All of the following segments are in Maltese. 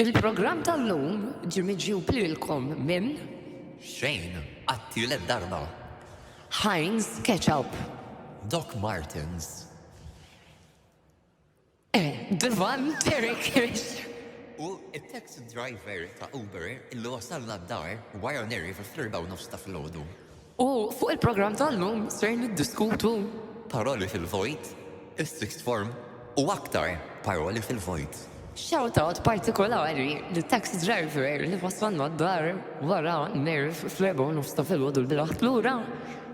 Il-programm tal-lum ġie miġjub lilkom minn. Xejn, għat-tielet darba. Heinz Ketchup. Doc Martens. Eh, Divan Terikis. U it-taxi driver ta' Uber illi wasalna d-dar wara neri fil-ħirba u nofs ta' filgħodu. U fuq il-programm tal-lum ser niddiskutu Paroli fil-vojt, is-sixth form u aktar paroli fil-vojt. Shout out partikolari li taxi driver li wassalna d-dar wara nerv fl-erba' u nofs ta' filgħodu l bilaħt lura,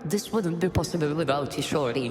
this wouldn't be possible without you shorty.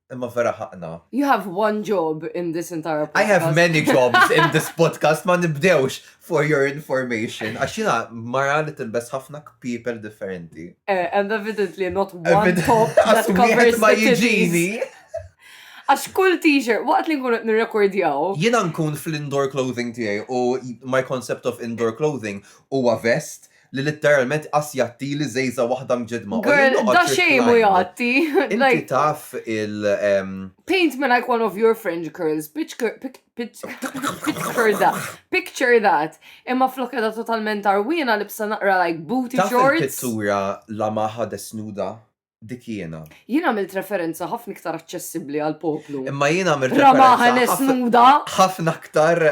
Imma vera ħaqna. You have one job in this entire podcast. I have many jobs in this podcast, ma nibdewx for your information. Għax jina mara li tilbes ħafna people differenti. Eh, and evidently not one top that covers ma jiġini. Għax kull t-shirt, waqt li nkun nirrekordjaw. Jina nkun fl-indoor clothing tiegħi u my concept of indoor clothing huwa vest li litteralment qas jgħattili żejża' waħda mġeddma. U jien Girl, noqgħod da xejn mhu reclined. jgħatti. Inti Like, taf il ehm, paint me like one of your French girls, picture, pic, pic, picture that, picture that. Imma flok qiegħda totalment għarwiena libsa naqra like booty taf shorts. il-pittura La Maja Desnuda? dik jiena. Jien għamilt referenza ħafna iktar aċċessibbli għal poplu. Imma jien għamilt referenza. nuda. ħafna iktar.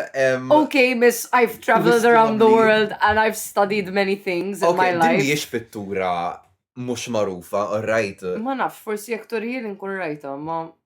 Ok, miss, I've traveled around the world and I've studied many things in my life. Mhijiex pittura mhux magħrufa, right? Ma nafx, forsi jekk torjien inkun rajta, ma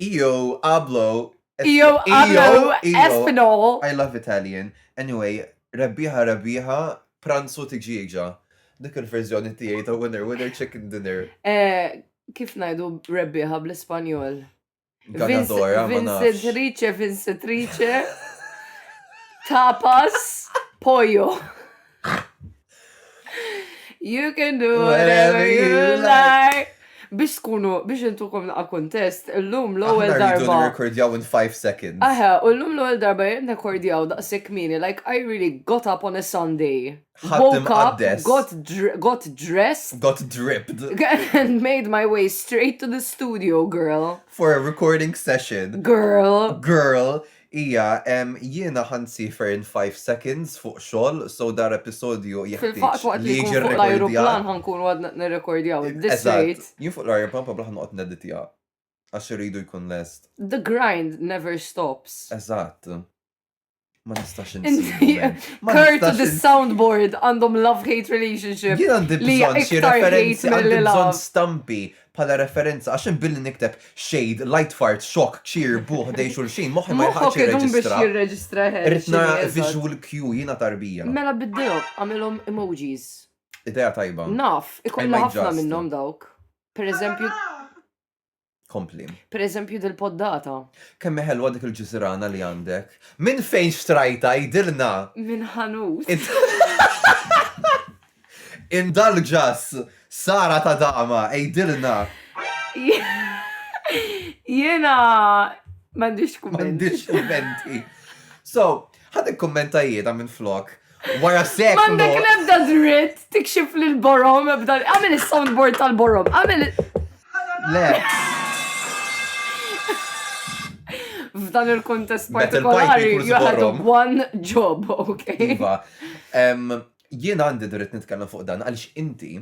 Io ablo. Io ablo espanol. I love Italian. Anyway, rebbieħa rebbieħa, pranzu tiġieġa. Dik il-verżjoni tiegħi ta' winner winner chicken dinner. Eh, kif ngħidu rebbieħa bl-Ispanjol? Ganadora, Vincetrice, Vincetrice. Tapas, pollo. You can do whatever you like. Biex tkunu, biex intukom naqa kontest, l-lum l-ewel darba. Aħna rridu rekordjaw in 5 seconds. Aha, u l-lum l-ewel darba jien rekordjaw daqsek mini, like I really got up on a Sunday. Woke up, got, got dressed. Got dripped. And made my way straight to the studio, girl. For a recording session. Girl. Girl. Hija, ehm, jiena ħa nsiefer in five seconds fuq xogħol, so dar episodju jeħtieġ li jiġi rrekordjat. Fil-fatt waqt li jkun fuq l-ajruplan ħa nkunu għadna nirrekordjaw it this rate. Eżatt, jien fuq l-ajruplan probabbli ħa noqgħod nedditja għax irridu jkun lest. The grind never stops. Eżatt. Ma nistax insiefer. Kurt u the soundboard għandhom love-hate relationship. Jien għandi bżonn xi referenzi, għandi bżonn stampi bħala referenza, għax jien billi nikteb shade, light fart, shock, cheer, buh, ħdejn xulxin, moħħi ma jilħaqx jirreġistra. jirreġistra Rrid nara visual cue jiena tarbija. Mela biddilhom, għamilhom emojis. Idea tajba. Naf, ikollha ħafna minnhom dawk. Per eżempju, Kompli. Per eżempju dil-poddata. Kemm ħelwa dik il-ġizrana li għandek. Minn fejn xtrajta jidilna? Minn ħanut. Indulgeus, Sara ta' dama, għidilna. Jiena m'għandix kumment. M'għandix kummenti. So, ħad ikkummenta jiena minn flok. Wara sekk. M'għandek l-ebda dritt tikxif lil borom ebda. Għamel is-soundboard tal-borom. Għamel. Le. F'dan il-kontest partikolari, you had one job, ok? Iva. Jien għandi dritt nitkellem fuq dan għaliex inti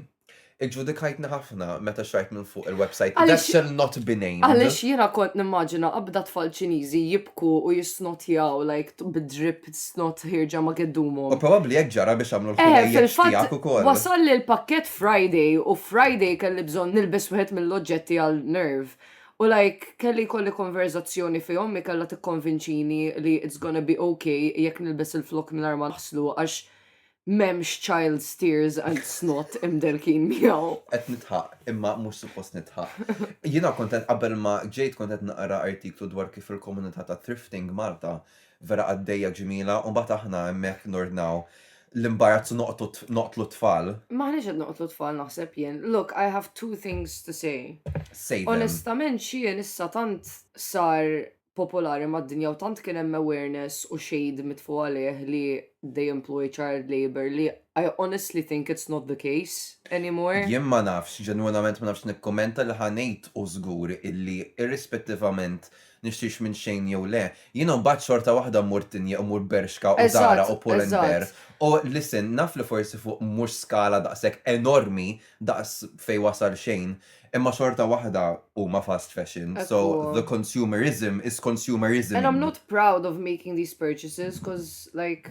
iġġudikajtni ħafna meta xrajt minn fuq il-website Għaliex- that shall not be named. Għaliex jiena kont nimmaġina qabda tfal Ċiniżi jibku u jissnotjaw like t- bid-drip snot ħierġa ma U kiddumhom. probabbli hekk ġara biex għamlu Eh, l-ħwejjeġ fil-fatt tiegħek ukoll. wasalli l-pakkett Friday u Friday kelli bżonn nilbes wieħed mill-oġġetti għal nerve. U like, kelli jkolli konverżazzjoni fihom li kellha tikkonvinċini li it's gonna be ok jekk nilbes il-flokk mingħajr ma naħslu għax m'hemmx child's tears and snot imdelkin miegħu. Qed nidħaq, imma mhux suppost nidħaq. Jiena kont qed qabel ma ġejt kont qed naqra artiklu dwar kif il-komunità ta' thrifting Malta Vera qaddejja ġmiela u mbagħad aħna hemmhekk nordnaw l-imbarazz u noqgħdu noqtlu t-tfal. M'aħniex qed noqtlu t-tfal naħseb jien. Look, I have two things to say. Say them. Onestament Shein issa tant sar popolari mad-dinja u tant kien hemm awareness u shade mitfugħ għalih li they employ child labour li I honestly think it's not the case anymore. Jien ma nafx, ġenwinament ma nafx nikkummenta li ħa ngħid hu żgur illi irrispettivament nixtrix minn Shein jew le, jiena mbagħad xorta waħda mmur Tinie u mmur Bershka u Zara u Pull and Bear. U listen, naf li forsi fuq mhux skala daqshekk enormi daqs fejn wasal Shein, imma xorta waħda huma fast fashion, so the consumerism is consumerisming. And I'm not proud of making these purchases, 'cause like.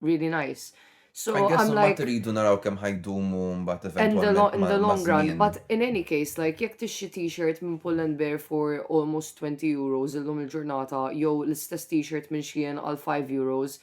really nice. So I guess ma tridu naraw kemm ħajdumu mbagħad eventwalment. In the long run, but in any case, like jekk tixxi t-shirt minn Pull and Bear for almost 20 euros illum il-ġurnata jew l-istess t-shirt minn Shein għal 5 euros,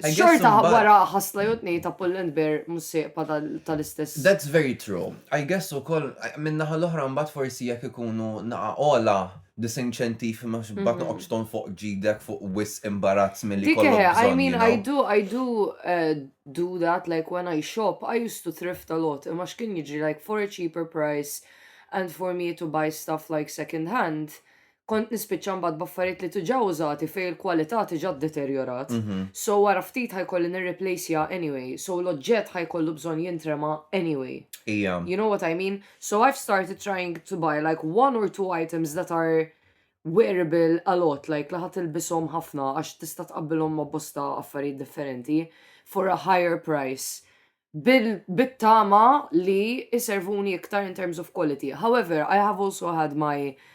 xorta wara ħasla jew tnej ta' Pull and Bear mussieqpa tal-istess. That's very true. I guess ukoll minnaħa l-oħra mbagħad forsi jekk ikunu naqa' ola disinċentiv ma xbat mhm. noqgħodx ton fuq ġidek fuq wis imbarazz milli kollok. Dike, I mean, I do, I do uh, do that, like when I shop, I used to thrift a lot, imma x'kien jiġri like for a cheaper price and for me to buy stuff like second hand, kont nispiċċa mbagħad baffariet li tuġa użati fej il-kwalità tiġa deteriorat. Mhm. So wara ftit ħajkolli nirreplaceja anyway, so l-oġġett ħajkollu bżonn jintrema anyway. Ija. You know what I mean? So I've started trying to buy like one or two items that are wearable a lot, like li ħa tilbishom ħafna għax tista' tqabbilhom ma' bosta affarijiet differenti for a higher price bit-tama li iservuni iktar in terms of quality. However, I have also had my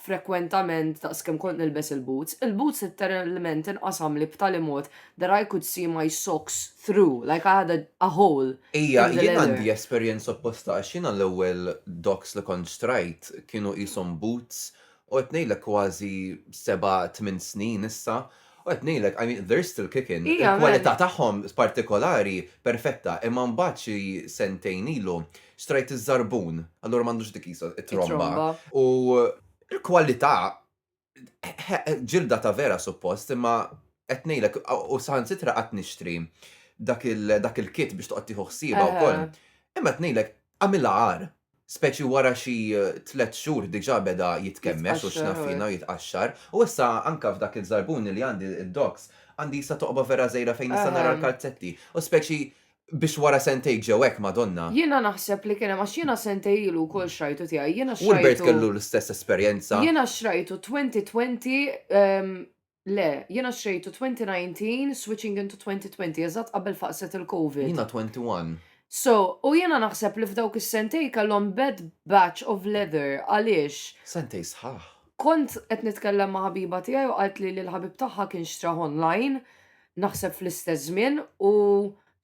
frekwentament daqs kemm kont nilbes il-boots, il-boots litteralment inqasamli b'tali mod that I could see my socks through, like I had a hole in the leather. Ija, jien għandi esperjenza opposta għax jiena l-ewwel dogs li kont xtrajt kienu qishom boots u qed ngħidlek kważi seba' tmien snin issa U qed ngħidlek, I mean, they're still kicking. Iva, veru. Il-kwalità tagħhom partikolari perfetta, imma mbagħad xi sentejn ilu xtrajt iż-żarbun, allura m'għandux dik qisha it-tromba. It-tromba. U l-kwalità, ġilda ta' vera suppost, imma qed ngħidlek, u saħansitra qatt nixtri dak il-kit biex toqgħod tieħu ħsiebha wkoll. Imma qed ngħidlek, Għamilha agħar, speċi wara xi tliet xhur diġà beda jitkemmex u x'naf jiena u jitqaxxar. U issa anke f'dak il-żarbun li għandi, id-docs, għandi issa toqba vera żgħira fejn nista' nara l-kalzetti. U speċi biex wara sentejk ġew hekk, Madonna! Jiena naħseb li kien hemm għax jiena sentej ilu wkoll xrajtu tiegħi. Jiena xrajtu. Wilbert kellu l-istess esperjenza. Jiena xrajtu twenty twenty, Le, jiena xtrejtu 2019 switching into 2020 eżatt qabel faqset il-Covid. Jiena 21. So, u jiena naħseb li f'dawk is-sentejn kellhom bad batch of leather għaliex. Sentejn sħaħ. Kont qed nitkellem ma' ħabiba tiegħi u qaltli li l-ħabib tagħha kien xtrah online naħseb fl-istess żmien u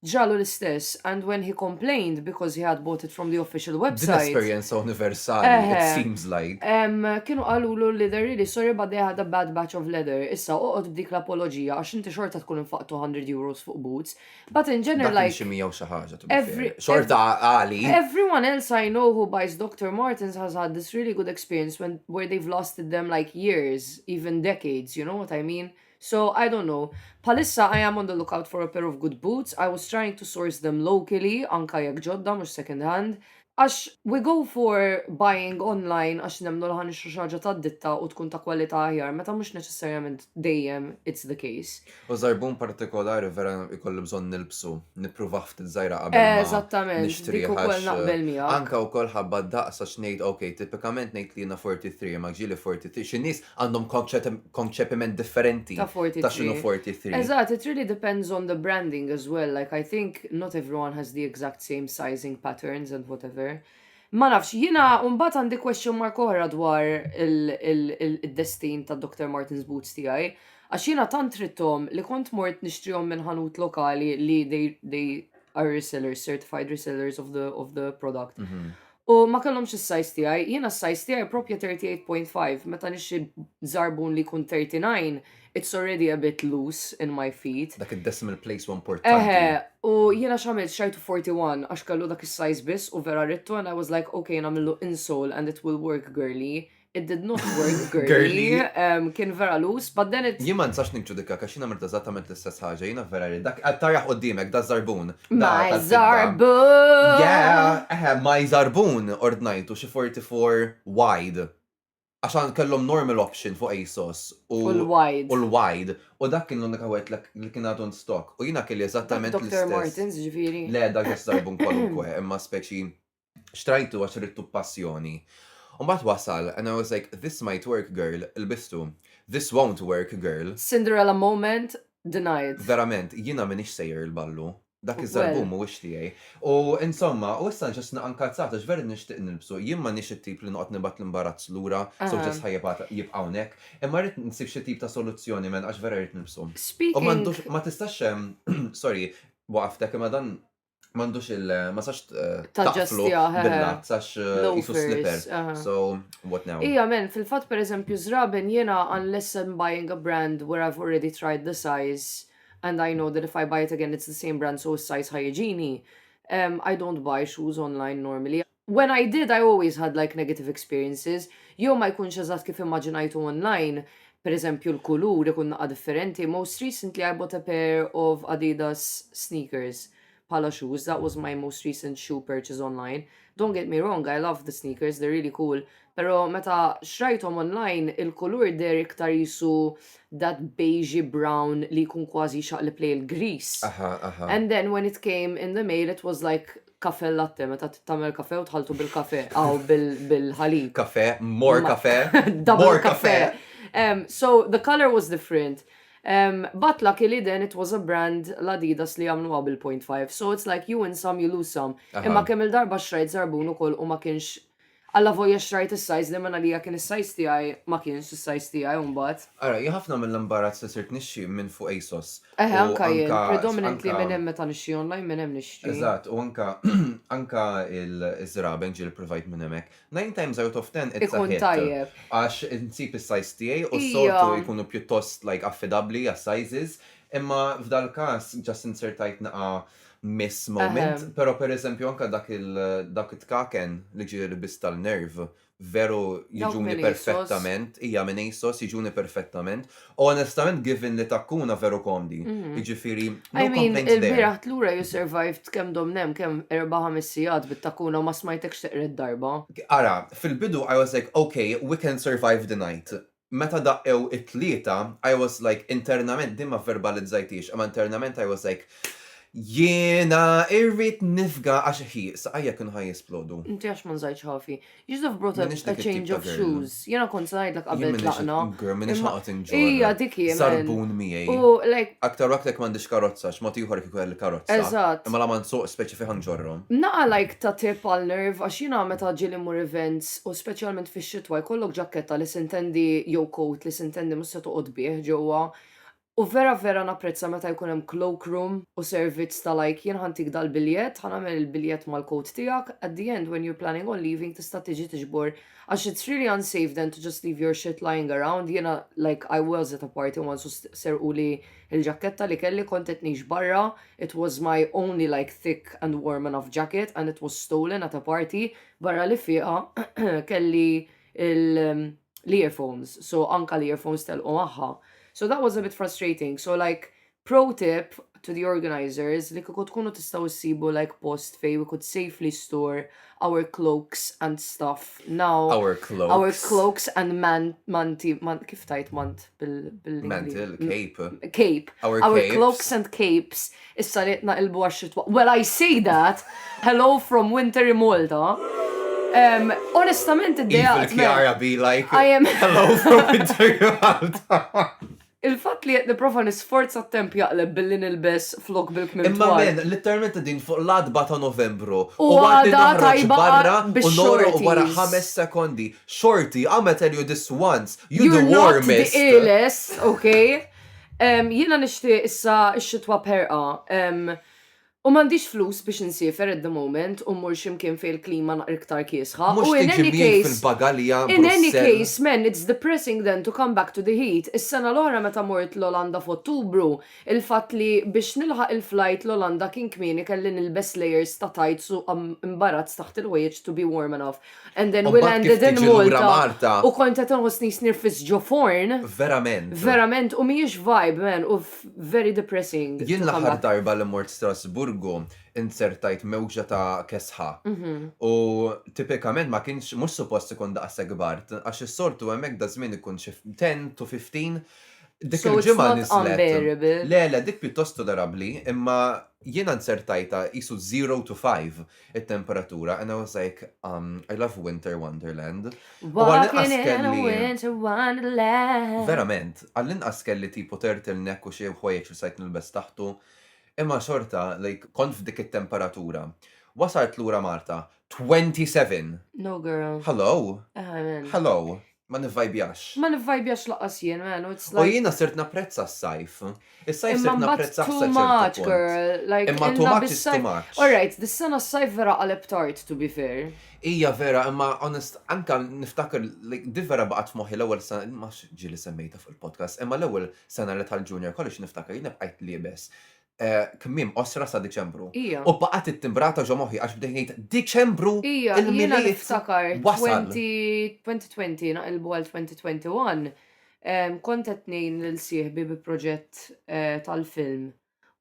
Ġralu l-istess and when he complained because he had bought it from the official Din website, esperjenza universali, it Eħe. seems like. em, kienu qalulu li they're really sorry but they had a bad batch of leather. Issa oqgħod b'dik l-apoloġija għax inti xorta tkun infaqt 200 euros fuq boots. But in Dak general kien xi like, 100 u xi ħaġa, to be Every- fair. Xorta għali. everyone else I know who buys Doctor Martens has had this really good experience when, where they've lasted them like years, even decades, you know what I mean? So I don't know. Bħalissa I am on the lookout for a pair of good boots, I was trying to source them locally, anka jekk ġodda mhux second hand, għax we go for buying online għax nemmnu li ħa nixtru xi ħaġa tad-ditta u tkun ta' kwalità aħjar meta mhux neċessarjament dejjem it's the case. U żarbun partikolari vera jkolli bżonn nilbsu, nippruvah ftit żgħira qabel ma nixtrih. Eżattament, dik ukoll naqbel miegħek. Anka wkoll ħabba d-daqs għax ngħid ok, tipikament ngħid li jiena 43 imma ġieli 43, xi nies għandhom konċepiment differenti ta' 43. Ta' xinu 43. Eżat, it really depends on the branding as well, like I think not everyone has the exact same sizing patterns and whatever. Ma nafx, jina unbat għandi question mark oħra dwar il-destin ta' Dr. Martin's Boots tijaj, għax jina tant rittom li kont mort nishtrijom minn ħanut lokali li they, they are resellers, certified resellers of the, of the product. Mm -hmm. U ma kellhomx is-sajz tiegħi, jiena s-sajz tiegħi propja 38.5, meta nixxi żarbun li jkun 39, it's already a bit loose in my feet. Dak id-decimal place u importanti. Eħe, u jiena x'għamilt xajtu 41 għax kellu dak is-sajz biss u vera rittu and I was like okay nagħmillu insole and it will work girlie, It did not work, girly. Ehm, kien vera lus, but then it... Jien ma nistax nikġudika għax jiena mirta eżattament l-istess ħaġa, jiena vera rrid dak qed taraħ qudiemek da żarbun. da My tal-fidda. zarbun! Yeah, eħe, my żarbun ordnajtu xi 44 wide. Għax għan kellhom normal option fuq ASOS u U l-wide. u l-wide u dak kien l-unika wieħed li- li kien għadu in stock u jiena kelli Dak eżattament Dr. l-istess. Martens, ġifieri. Le, dak just żarbun kwalunkwe, imma speċi Xtrajtu għax ridtu b'passjoni. Mbagħad wasal and I was like, this might work girl, lbistu. This won't work girl. Cinderella moment denied. Verament, jiena m'iniex sejjer il-ballu. Dak iż-żarbun mhuwiex tiegħi. U insomma, u issa ġust naqa' nkalzat għax vera nixtieq nilbsu. Jien m'għandniex it-tip li noqgħod nibgħat l-imbarazz lura, so ġust ħa jibqa' hawnhekk. Imma rrid nsib xi tip ta' soluzzjoni man għax vera rrid nilbsu. U m'għandux, ma tistax, sorry, waqaftek, imma dan Mandux il- eh, ma sax eh, taqflu bil-lat, sax eh, jisu slipper. So, what now? Ija, men, fil-fat per eżempju, zraben jena unless I'm buying a brand where I've already tried the size and I know that if I buy it again it's the same brand so size ħajġini, um, I don't buy shoes online normally. When I did, I always had like negative experiences, jew ma jkunx eżatt kif immaġinajtu online, per eżempju l-kulur ikun naqqa differenti, most recently I bought a pair of Adidas sneakers bħala shoes, that was my most recent shoe purchase online, don't get me wrong I love the sneakers, they're really cool, pero meta xrajthom online il-kulur deher iktar qisu that beigey brown li jkun kważi jxaqleb lejn il-grease, and then when it came in the mail it was like Cafe latte, meta tagħmel kafe u tħaltu bil-kafe, aw bil-ħalib. Kafe, more kafe. Double kafe. Um, so the color was different. Um, but luckily then it was a brand l-Adidas li għamlu bil-.5. So it's like you win some, you lose some. Imma kemm il-darba xrajt zarbun u koll u ma kienx Allavolja xtrajt is-size li minn għalija kien is-size tiegħi, ma kienx is-size tiegħi u mbagħad. Ara, jien ħafna mill-imbarazz li sirt nixtri minn fuq ASOS. Eħe, anka jien. Predominantly minn hemm meta nixtri online, minn hemm nixtri. Eżatt, u anka anka l-żraben ġieli ppruvajt minn hemmhekk. Nine times out of ten it's a hit. Ikun tajjeb. Għax insib is-size tiegħi u s-soltu jkunu pjuttost like affidabbli għas-sizes, imma f'dal-każ just inzertajt naqa' miss moment, Ehem. pero per eżempju anka dak il dak it-tkaken li ġie lbist tal-nerv, veru Dawk jiġuni minn ASOS. perfettament, hija minn ASOS, jiġuni perfettament, u onestament given li takkuna veru komdi. Mhm. Jiġifieri, I no mean, complaints there. il-bieraħ tlura you survived kemm domna hemm, kemm erba' ħames sigħat bit-takkuna u ma smajtekx teqred darba. Ara, fil-bidu I was like, ok, we can survive the night. meta daqqew it-tlieta I was like internament din ma vverbalizzajthiex imma internament I was like jiena irrid nifga għax ħi saqajja kienu ħa jisplodu. Inti għax ma nżajtx ħafi. Joseph brought a, Minix dik a it-tip change ta' of girl. shoes. Jiena kont se ngħidlek Jien qabel minix tlaqna. girl minix imma- ħaqgħod inġorr. Ija dik hi, man. Sarbun miegħi. U like, Aktar u aktar jekk m'għandix karozza għax mod ieħor kieku kelli karozza. eżatt. Imma la ma nsuqx speċi fih ħa nġorrhom. Naqa' like ta' tip għal nerve għax jiena meta ġieli mmur events u speċjalment fix-xitwa jkollok ġakketta li sintendi jew coat li sintendi mhux se toqgħod bih ġewwa u vera vera napprezza meta jkun hemm cloak room u servizz ta' like jien ħa ntik dal-biljett ħa nagħmel il-biljett mal-coat tiegħek at the end when you're planning on leaving tista' tiġi tiġbor għax it's really unsafe then to just leave your shit lying around jiena like I was at a party once u serquli l-ġakketta li kelli kont qed ngħix barra it was my only like thick and warm enough jacket and it was stolen at a party Barra li fieqa kelli l-earphones, so anka l-earphones telqu magħha. So that was a bit frustrating. So like pro tip to the organizers li kieku tkunu tistgħu issibu like post fej we could safely store our cloaks and stuff now. Our cloaks. Our cloaks and man, manti, man, kif tajt mant? bil-mantle, cape. Cape. Our, Our capes. cloaks and capes. Issa li naqilbu għax-xitwa. Well, I see that. Hello from winter in Malta. Um, onestament, id-dea. Kiara be like, I am. Hello from winter in Malta. Il-fat li jett niprofa nisforza temp jaqleb billi nilbes flok bil-kmim. Imma men, literalment din fuq l-adba ta' novembru. U għada tajba barra u nora u wara ħames sekondi. Xorti, I'ma tell you this once, you the You're not the warmest. illest, ok? Em, Jiena nixtieq issa x-xitwa b'ħerqa. em, U m'għandix flus biex insiefer at the moment u mmur xi mkien fejn il-klima naqra iktar kiesħa. Mhux U in tiġi any miegħi case, fil-bagalja in any Brussell. case, man, it's depressing then to come back to the heat. Is-sena l-oħra meta mort l-Olanda f'Ottubru, Il-fatt li biex nilħaq il-flajt l-Olanda kien kmieni kelli nilbes layers ta' tights u imbarazz taħt il-ħwejjeġ to be warm enough. And then we landed in Malta u kont qed inħossni snirfis ġo forn. Verament. Verament u mhijiex vibe man u very depressing. Jien l-aħħar darba li mort Strasburgu inzertajt mewġa ta' kesħa u tipikament ma kienx mhux suppost ikun daqshekk bard għax is-soltu hemmhekk daż-żmien ikun xi ten to fifteen Dik So it's il-ġimgħa not niżlet. unbearable. Le, le, dik pjuttost tolerabbli, imma jiena nzertajtha qisu zero to five it-temperatura and I was like, um, I love winter wonderland. U għall-inqas Walking in a kelli- winter wonderland. Verament, għall-inqas kelli tipo turtleneck u xi ħwejjeġ li stajt nilbes taħtu, imma xorta, like, kont f'dik it-temperatura. Wasalt lura Malta, 27! No girl. Hello! Amen. Hello! Ma nivvajbjax. Ma nivvajbjax lanqas jien, man, u it's like. U jiena sirt napprezza s-sajf. Is-sajf sirt napprezzah sa ċertu punt. Imma mbagħad too much, girl. Like, imma too much is too much. All right, dis-sena s-sajf vera qaleb tard, to be fair. Hija vera, imma honest, anke niftakar, like, di vera baqgħet f'moħħi l-ewwel sena, ma nafx ġieli semmejtha fuq il-podcast, imma l-ewwel sena li tal-junior college niftakar jiena bqajt liebes eh, kmiem qosra sa Diċembru. Ija. U baqgħet ittimbrata ġo moħħi għax bdejt ngħid Diċembru Ija, jiena il-milied niftakar wasal. 20 2020 naqilbu għal 2021 em, kont qed ngħin lil sieħbi bi proġett eh, tal-film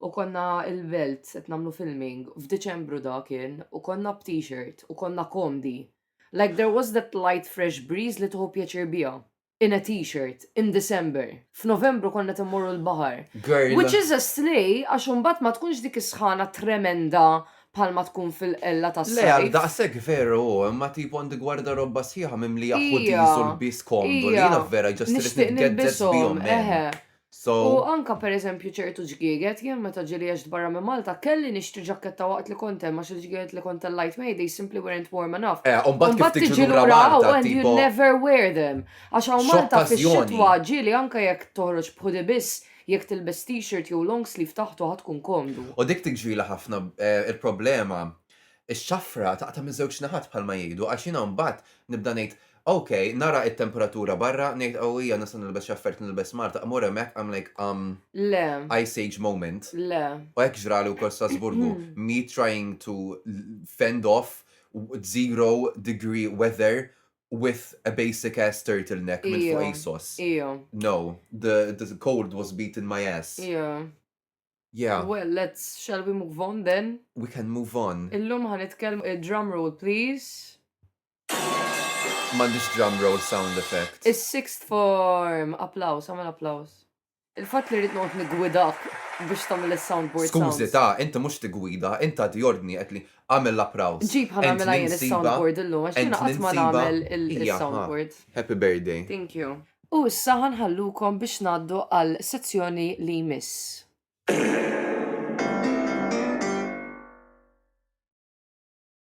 u konna il-belt qed nagħmlu filming f'Diċembru da kien u konna b't-shirt u konna komdi. Like there was that light fresh breeze li tuħu pjaċir biha. in a t-shirt in December. F'Novembru konna qed immorru l-baħar. Girl. Which is a slay għax imbagħad ma tkunx dik is-sħana tremenda bħalma tkun fil-qella tas-sajf. Le għal daqshekk veru hu, imma tipo għandi gwardarobba sħiħa mimlija ħudies u lbies komdu li jiena vera just irrid nitgezzez bihom, man. U anke pereżempju ċertu ġgieget, jien meta ġieli għext barra minn Malta, kelli nixtri ġakketta waqt li kont hemm għax il-ġgieget li kont tellajt miegħi they simply weren't warm enough. Eh, u mbagħad kif tiġi lura Malta and you never wear them. Għax hawn Malta fix-xitwa ġieli anke jekk toħroġ b'hoodie biss, jekk tilbes t-shirt jew long sleeve taħtu ħa tkun komdu. U dik tiġrili ħafna, il-problema, ix-xafra taqta' miż-żewġ naħat bħalma jgħidu għax jiena mbagħad nibda ngħid Ok, nara it-temperatura barra, ngħid qawwija nista' nilbes xi affarijiet nilbes Malta, immur hemmhekk I'm like umm Le. Ice age moment. Le. U hekk ġrali wkoll Strasburgu, me trying to fend off zero degree weather with a basic ass turtle neck minn fuq ASOS. Ija. No, the the cold was beating my ass. Ija. Yeah. Well, let's, shall we move on then? We can move on. Illum ħa nitkellmu, drum roll please. M'għandix drum roll sound effect. Is-sixth form! Applaws, agħmel applaws. Il-fatt li rrid noqgħod niggwidak biex tagħmel is-soundboard sounds. Skużi ta, inti mhux tiggwida, inti tagħti ordni qed li agħmel l-applaws. Ġib ħa nagħmilha jien is-soundboard illum għax jiena qatt ma nagħmel is-soundboard. Happy birthday. Thank you. U issa ħa nħallukom biex ngħaddu għal sezzjoni li jmiss.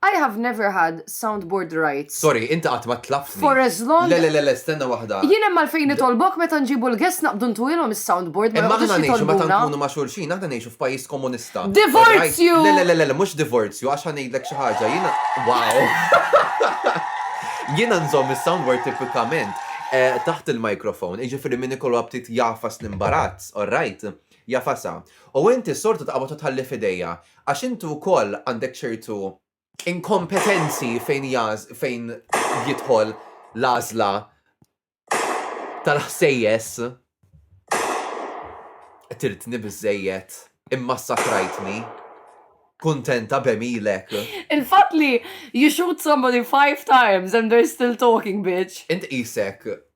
I have never had soundboard rights. Sorry, inti qatt ma tlabtni. For as long. Le, le, le, le, stenna waħda. Jien hemm għalfejn nitolbok meta nġibu l-guests naqbdu ntuhilhom is-soundboard, ma joqogħdux jitolbuna. Imma aħna ngħixu meta nkunu ma' xulxin, aħna ngħixu f'pajjiż komunista. Divorzju! Le, le, le, le, mhux divorzju għax ħa ngħidlek xi ħaġa, jiena wow! Jiena nżomm is-soundboard tipikament taħt il-microphone, jiġifieri min ikollu aptit jagħfas l-imbarazz, all right? Jafasa, U inti s-sortu taqbad u tħalli f'idejja, għax inti wkoll għandek ċertu inkompetenzi fejn fejn jidħol l-għażla tal-ħsejjes. Qtiltni biżżejjed, immassakrajtni. Kuntenta b'għemilek. Il-fatt li you shoot somebody five times and they're still talking, bitch. Int qisek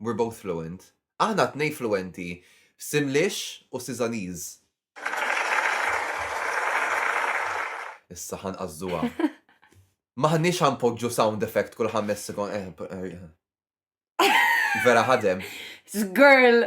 We're both fluent. Aħna t-tnejn fluwenti f'Simlish u Sizaniż. Issa ħa nqażżuha. M'aħniex ħa npoġġu sound effect kull ħames sekond. Eh, eh, eh. Vera ħadem. Girl,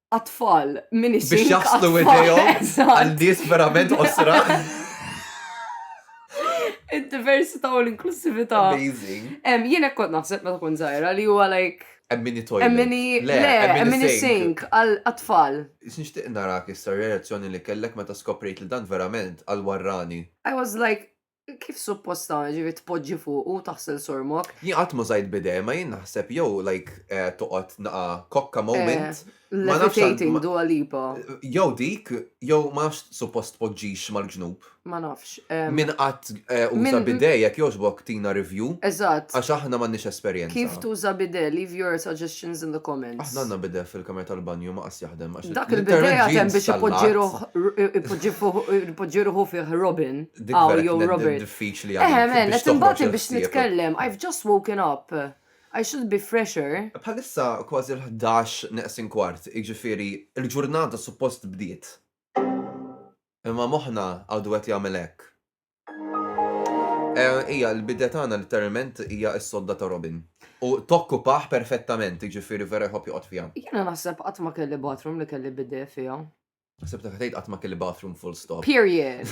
għatfall minn ix Biex jaħslu idejhom għal nies verament osra. Id-diversità u l-inklusività. Amazing. Jien hekk kont naħseb meta kont żgħira li huwa like Emmini toilet. Emmini, le, emmini sink, għal-atfall. Xnixtiq narak issa reazzjoni li kellek meta skoprejt li dan verament għal-warrani. I was like, Kif suppost tagħmel ġifi tpoġġi fuq u taħsel sormok? Jien qatt ma żajt bidej, ma jien naħseb jew like eh, toqgħod naqa kokka moment. Eh, ma nafx Levitating Dua Lipa. Jew dik, jew ma nafx suppost tpoġġix mal-ġnub. Ma nafx. em, Min qatt eh, uża Min- bidej jekk jogħġbok tina review Eżatt. għax aħna m'għandniex esperjenza. Kif tuża bidel? Leave your suggestions in the comments. Aħna għandna bidej fil-kamra tal-banju ma jaħdem għax Dak il-bidej għatem biex ipoġġi ruħu fih Robin. Aw jew Robert. Diffiċli għal. Eħe men, qed imbagħad biex nitkellem. I've just woken up. I should be fresher. Bħalissa kważi l-ħdax neqsin kwart, jiġifieri l-ġurnata suppost bdiet. Imma moħħna għadu qed jagħmel hekk. Hija l-bidja tagħna litteralment hija s-sodda ta' Robin. U tokkupah perfettament, jiġifieri vera jħobb joqgħod fiha. Jiena naħseb qatt ma kelli bathroom li kelli bidet fiha. Ħsibtek qed tgħid qatt ma kelli bathroom full stop. Period.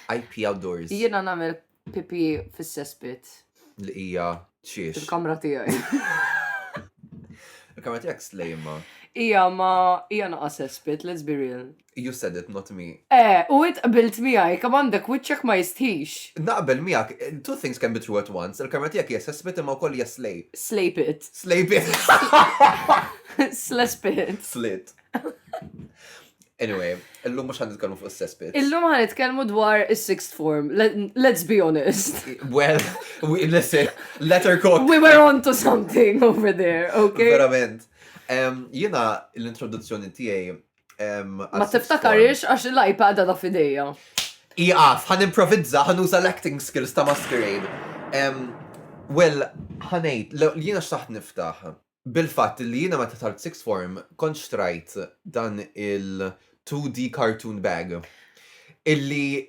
I pee outdoors. Jiena nagħmel pipì fis-cesspit. Li hija xiex. Il-kamra tiegħi. Il-kamra tiegħek slejma. Hija ma hija naqa' cesspit, let's be real. You said it, not me. Eh, u int qbilt miegħi, kemm għandek wiċċek ma jistħix! Naqbel miegħek, two things can be true at once, il-kamra tiegħek hija sespit imma wkoll hija slay. Slay pit. Slay pit. Sles pit. Slit. Anyway, illum mhux ħan nitkellmu fuq is-sespit. Illum ħan nitkellmu dwar is-sixth form. Let's be honest. Well, we, listen, letter code. We were on to something over there, okay? Verament. Jiena l-introduzzjoni tiegħi Ma tiftakarix għax l-iPad għada fideja. Iqaf, ħan improvizza, ħan uża l-acting skills ta' masquerade. Well, ħanejt, jiena xtaħt niftaħ. Bil-fatt li jiena meta tal six form kont xtrajt dan il-2D cartoon bag. Illi.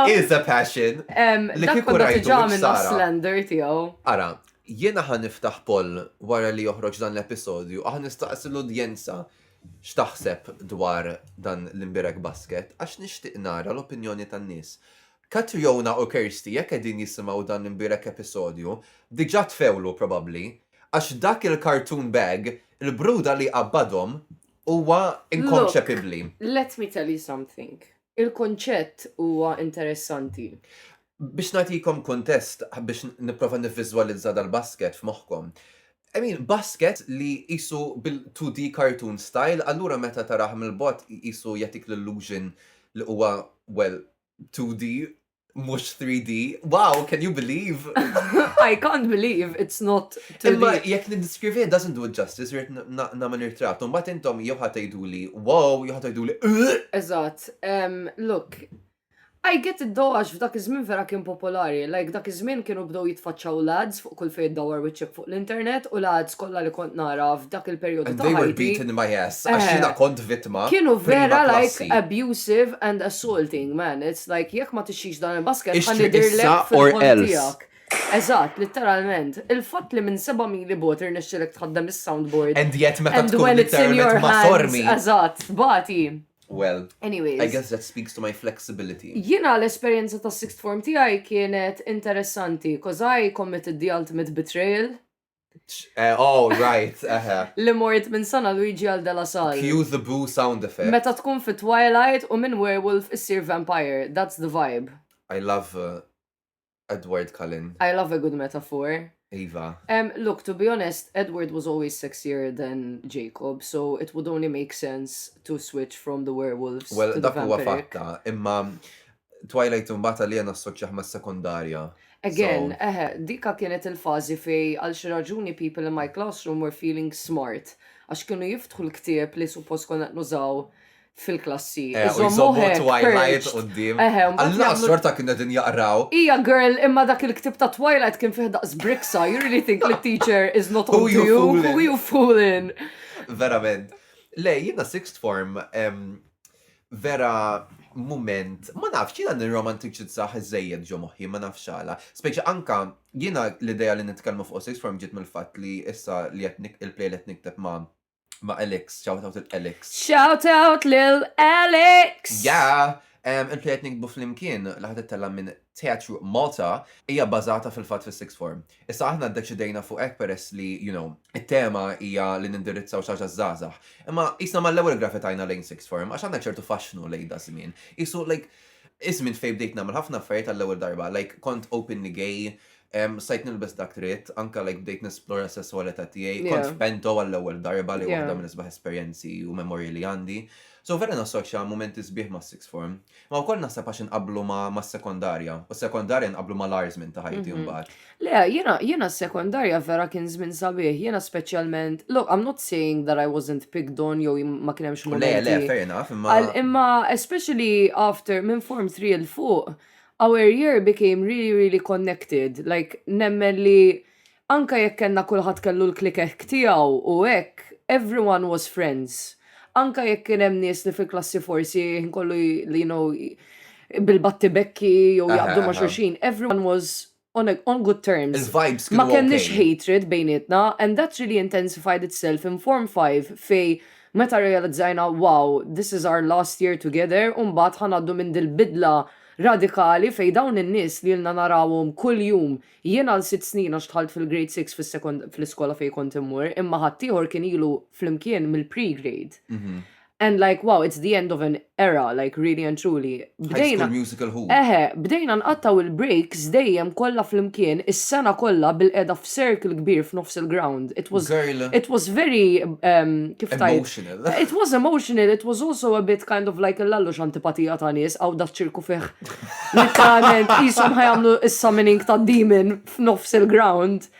It is a passion. Li kiku rajtu. Ġa minn slender tiegħu. Ara, Jiena ħa niftaħ poll wara li joħroġ dan l-episodju u ħa nistaqsi l-udjenza x'taħseb dwar dan l-imbierek basket għax nixtieq nara l-opinjoni tan-nies. Catriona u Kirsty jekk qegħdin jisimgħu dan l-imbierek episodju diġà tfewlu probabbli għax dak il-cartoon bag il-bruda li jqabbadhom huwa inkonċepibbli. Look, let me tell you something. Il-kunċett huwa interessanti. Biex nagħtikom kuntest biex nipprova nivviżwalizza dal-basket f'moħħkom. I mean, basket li qisu bil-2D cartoon style, allura meta tarah mill-bogħod qisu jagħtik l-illusion li huwa, well, 2D mhux 3D. Wow, can you believe? I can't believe it's not 2D. Imma jekk niddescrivi it doesn't do it justice, rrid nagħmel irtratt. Mbagħad intom jew ħa tgħiduli wow, jew ħa tgħiduli Eżatt. Look, I get it though għax f'dak iż-żmien vera kien popolari, like dak iż-żmien kienu bdew jitfaċċaw l-ads fuq kull fejn iddawwar wiċċek fuq l-internet u l-ads kollha li kont nara f'dak il-perjodu ta' ħajti. And they were beating my ass għax jiena kont vittma prima klassi. Kienu vera like abusive and assaulting man, it's like jekk ma tixtrix dan il-basket ħa nidhirlek fil-ħolm tiegħek. Eżatt, litteralment. Il-fatt li minn seba' mili bogħod irnexxielek tħaddem is-soundboard and when it's in your hands. And yet meta rmittulek ma' sormi. Eżatt, bagħti. Well, Anyways. I guess that speaks to my flexibility. Jiena l-esperjenza ta' sixth form tiegħi kienet interessanti, cause I committed the ultimate betrayal. Eh, oh, right, eħe. Li mort minn sana Luigi għal Della Sal. Cue the boo sound effect. Meta tkun fi Twilight u minn werewolf issir vampire, that's the vibe. I love uh, Edward Cullen. I love a good metaphor. Iva. Um, look, to be honest, Edward was always sexier than Jacob, so it would only make sense to switch from the werewolves well, to the vampiric. Well, dak huwa fatta, imma Twilight imbagħad li għana assoċjaħ ma' sekondarja. Again, so... eħe, dika kienet il-fazi fej għal xi raġuni people in my classroom were feeling smart, għax kienu jiftħu l-ktieb li suppost konna nużaw fil-klassi. Eh, u jżommu Twilight u d-dim. Alla, sorta kien qed jaqraw. Ija girl, imma dak il-ktib ta' Twilight kien fih daqs briksa, you really think the teacher is not on you? Who are you fooling? Verament. Le, jina sixth form, vera moment, ma nafx, jina nirromantiċizzaħ iżejjed ġo moħi, ma nafx għala. Speċi anka, jina l-ideja li nitkellmu fuq sixth form ġiet mill-fat li issa li il-play li nikteb ma' ma' Alex, shout out lil Alex. Shout out lil Alex! Yeah! Um, Il-plejat nikbu fl-imkien li ħad ittella minn Teatru Malta hija bażata fil-fatt fis-sixth form. Issa aħna ddeċidejna fuq hekk peress li, you know, it-tema hija li nindirizzaw xi ħaġa żgħażagħ. Imma qisna mal-ewwel grafitajna lejn sixth form għax għandna ċertu faxxnu lejn da żmien. Isu like iż-żmien fejn bdejt nagħmel ħafna affarijiet għall-ewwel darba, like kont openly gay, Stajt nilbes dak tritt, anka like bdejt nesplora s-sessualità tiegħi, kont f'pento għall-ewwel darba li waħda minn isbaħ esperjenzi u memorji li għandi. So vera nassoċja mumenti sbieħ mas-sixth form. Ma wkoll naħseb għax inqabblu mas-sekondarja, u s-sekondarja nqabblu mal-agħar żmien ta' ħajti mbagħad. Le, jiena jiena s-sekondarja vera kien żmien sabiħ, jiena speċjalment, look, I'm not saying that I wasn't picked on jew ma kien hemmx mumenti. Le, le, fair enough, imma. Imma especially after minn form three 'l fuq, our year became really, really connected. Like, nemmen li anka jekk kellna kulħadd kellu l-klikek tiegħu u hekk, everyone was friends. Anka jekk kien hemm nies li fil-klassi forsi kollu li you know bil-batti bekki jew jaqdu ma' xulxin, everyone was on, a, on good terms. Il-vibes kienu Ma kellix okay. hatred bejnietna and that really intensified itself in Form 5 fej meta realizzajna wow, this is our last year together u mbagħad ħa ngħaddu minn dil-bidla radikali fej dawn in-nies li ilna narawhom kuljum, jien għal sitt snin għax dħalt fil-Grade Six fis-sekond fl-iskola fejn kont immur imma ħaddieħor kien ilu flimkien mill-pre-grade. And like, wow, it's the end of an era, like really and truly. Bdejna. musical who? Eħe, bdejna nqattaw il-breaks dejjem kollha flimkien is-sena kollha bil-qeda f'circle kbir f'nofs il-ground. It was Girl. it was very um, kif tajt. Emotional. It was emotional, it was also a bit kind of like l-allux antipatija ta' nies għaw da ċirku fih. Literalment, jisom ħajamlu is-summoning ta' demon f'nofs il-ground.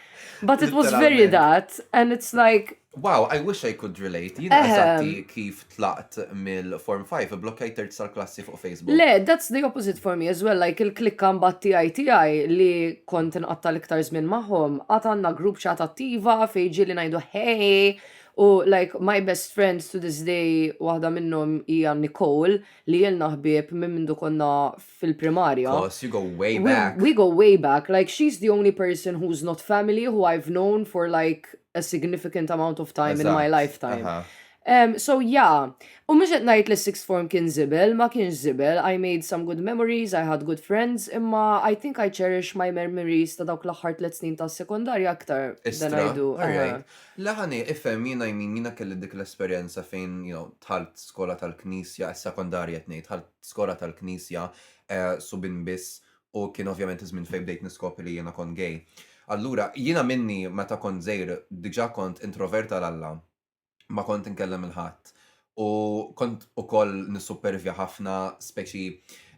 But it was very Literalment. that, and it's like, Wow, I wish I could relate. Jien għazati ehm. kif tlaqt mill-Form 5, blokkajt terz tal-klassi fuq Facebook. Le, that's the opposite for me as well, like il-klikka mbatt tijaj tijaj li kont nqatta l-iktar zmin maħom, għat għanna grupp ċat attiva fejġi li najdu hey, u like my best friends to this day, wahda minnom hija Nicole, li jelna ħbib minn mindu konna fil-primarja. Cos you go way back. We, we go way back, like she's the only person who's not family who I've known for like a significant amount of time in my lifetime. Um, so yeah, u mux najt li sixth form kien zibel, ma kienx zibel, I made some good memories, I had good friends, imma I think I cherish my memories ta' dawk l-axħar tlet snin ta' sekundarja aktar than I do. Laħani, ifem, jina jmin, jina kelli dik l-esperienza fejn, you know, tħalt skola tal-knisja, sekundarja tnejt, tħalt skola tal-knisja, eh, subin biss, u kien ovvjament iż-żmien fejn bdejt niskopri li jiena kont gay. Allura, jiena minni meta kont żgħir diġà kont introvert għal Alla, ma kont inkellem lil ħadd u kont ukoll nissuppervja ħafna, speċi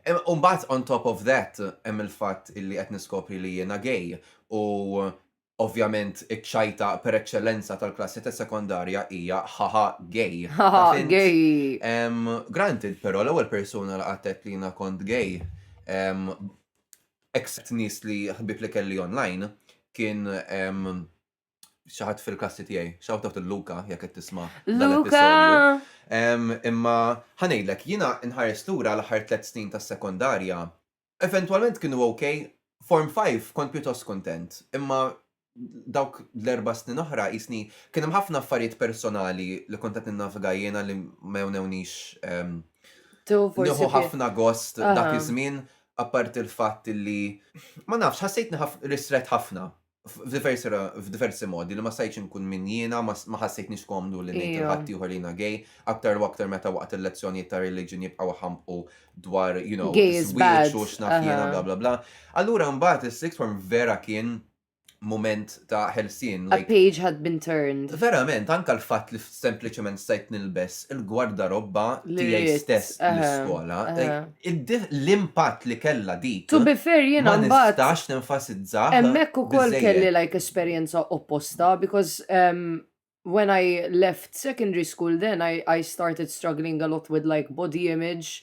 U mbagħad on top of that hemm il-fatt illi qed niskopri li jiena gay u Ovvjament iċ-ċajta per eċċellenza tal-klassi tas-sekondarja hija ħaħa gay. Ħaħa gay! Granted però l-ewwel persuna li qatt għedt li jiena kont gay, except nies li ħbieb li kelli online, kien xi ħadd fil-klassi tiegħi. Shout out lil Luka jekk qed tisma' l-episodju. Imma ħa ngħidlek, jiena nħares lura l-aħħar tliet snin tas-sekondarja eventwalment kienu ok, Form Five kont pjuttost kuntent, imma dawk l-erba' snin oħra qisni kien hemm ħafna affarijiet personali li kont qed ninnavga jiena li ma jewnewniex nieħu ħafna gost dak iż-żmien apparti l-fatt li ma nafx ħassejtni ristret ħafna f'diversi modi li ma stajtx inkun min jiena, ma ħassejtnix komdu li ngħid il ħadd ieħor li jiena gay, aktar u aktar meta waqt il-lezzjonijiet ta' reliġjon jibqgħu jħampqu dwar, you know, żwieġ u x'naf jiena bla bla bla. Allura mbagħad is-sixth form vera kien moment ta' ħelsien. A page had been turned. Verament, anka l-fatt li sempliċement stajt nilbes il-gwardarobba tiegħi stess l-iskola. L-impatt li kellha dik. To be fair, jiena ma nistax nenfasizza. Hemmhekk ukoll kelli like esperjenza opposta because um, when I left secondary school then I, I started struggling a lot with like body image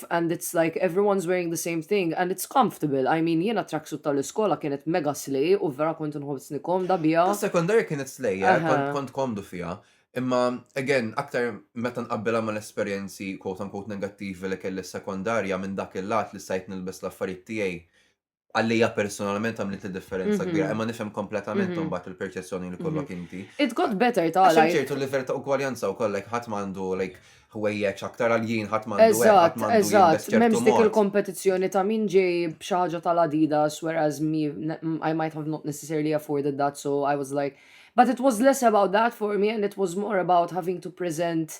and it's like everyone's wearing the same thing and it's comfortable, I mean jiena t-tracksuit tal-iskola kienet mega slay u vera kont nħossni komda biha. Tas-sekondarja kienet slay, kont komdu fiha. Imma again, aktar meta nqabbilha mal-esperjenzi quote unquote negattivi li kelli s-sekondarja minn dak il-lat li stajt nilbes l-affarijiet tiegħi għallija personalment għamlet il-differenza mhm. kbira, imma nifhem kompletament mhm. mbagħad il-perċezzjoni li kollok mhm. inti. It got better ta' għalaj. ċertu livell ta' ugwaljanza u kollek ħadd m'għandu like ħwejjeġ aktar għal jien ħadd m'għandu ħadd m'għandu Eżatt, m'hemmx dik il-kompetizzjoni ta' min ġej b'xi ħaġa tal-Adidas whereas me I might have not necessarily afforded that so I was like but it was less about that for me and it was more about having to present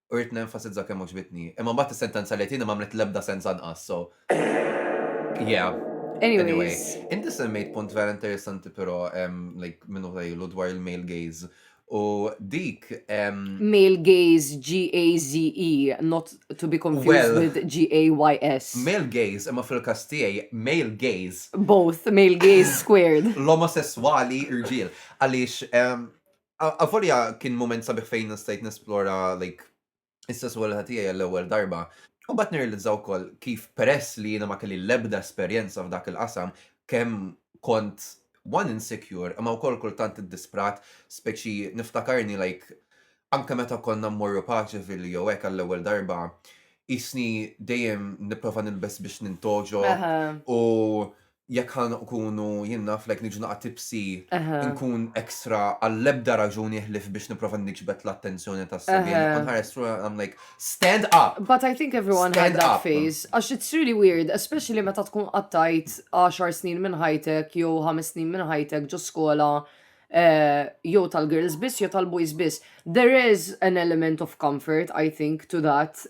u rrid nenfasizza kemm għoġbitni. Imma mbagħad is-sentenza li tieni m'għamlet l-ebda sens anqas, so. Yeah. Anyway, inti semmejt punt vera interessanti però like minnu ħajlu dwar il-male gaze. U dik. Male gaze, G-A-Z-E, not to be confused with G-A-Y-S. Male gaze, imma fil-kas tiegħi, male gaze. Both, male gaze squared. L-omosessuali irġiel. Għaliex Avolja kien moment sabiħ fejn stajt nesplora like is-sesswalità tiegħi għall-ewwel darba. U mbagħad nirrealizza wkoll kif peress li jiena ma kelli l-ebda esperjenza f'dak il-qasam kemm kont one insecure imma wkoll kultant iddisprat speċi niftakarni like anke meta konna mmorru paċevil jew hekk għall-ewwel darba qisni dejjem nipprova nilbes biex nintoġo u jekk ħa nkunu jien naf like niġu naqa' tipsy nkun extra għall-ebda raġuni ħlief biex nipprova niġbed l-attenzjoni tas-semiegħa nibqa' nħares through and I'm like stand up! But I think everyone had that phase għax it's really weird especially meta tkun qattajt għaxar snin minn ħajtek jew ħames snin minn ħajtek ġo skola jew tal-girls biss jew tal-boys biss. There is an element of comfort I think to that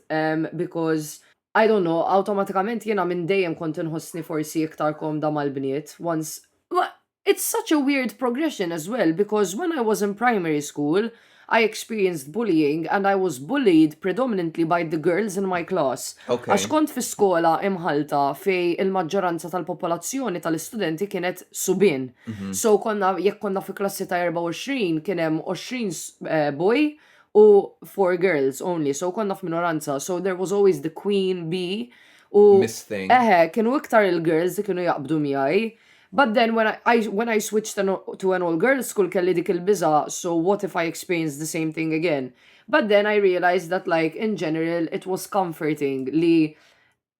because I don't know, awtomatikament jiena minn dejjem kont inħossni forsi iktar komda mal-bniet, once, ma it's such a weird progression as well because when I was in primary school I experienced bullying and I was bullied predominantly by the girls in my class għax kont fi skola imħallta fej il-maġġoranza tal-popolazzjoni tal-istudenti kienet subien. So konna jekk konna fi klassi ta' 24 kien hemm 20 boy u four girls only so konna f'minoranza so there was always the queen bee u Miss thing. eħe kienu iktar il-girls li kienu jaqbdu miegħi but then when I, when I switched an, to an all girls school kelli dik il-biża so what if I experience the same thing again but then I realized that like in general it was comforting li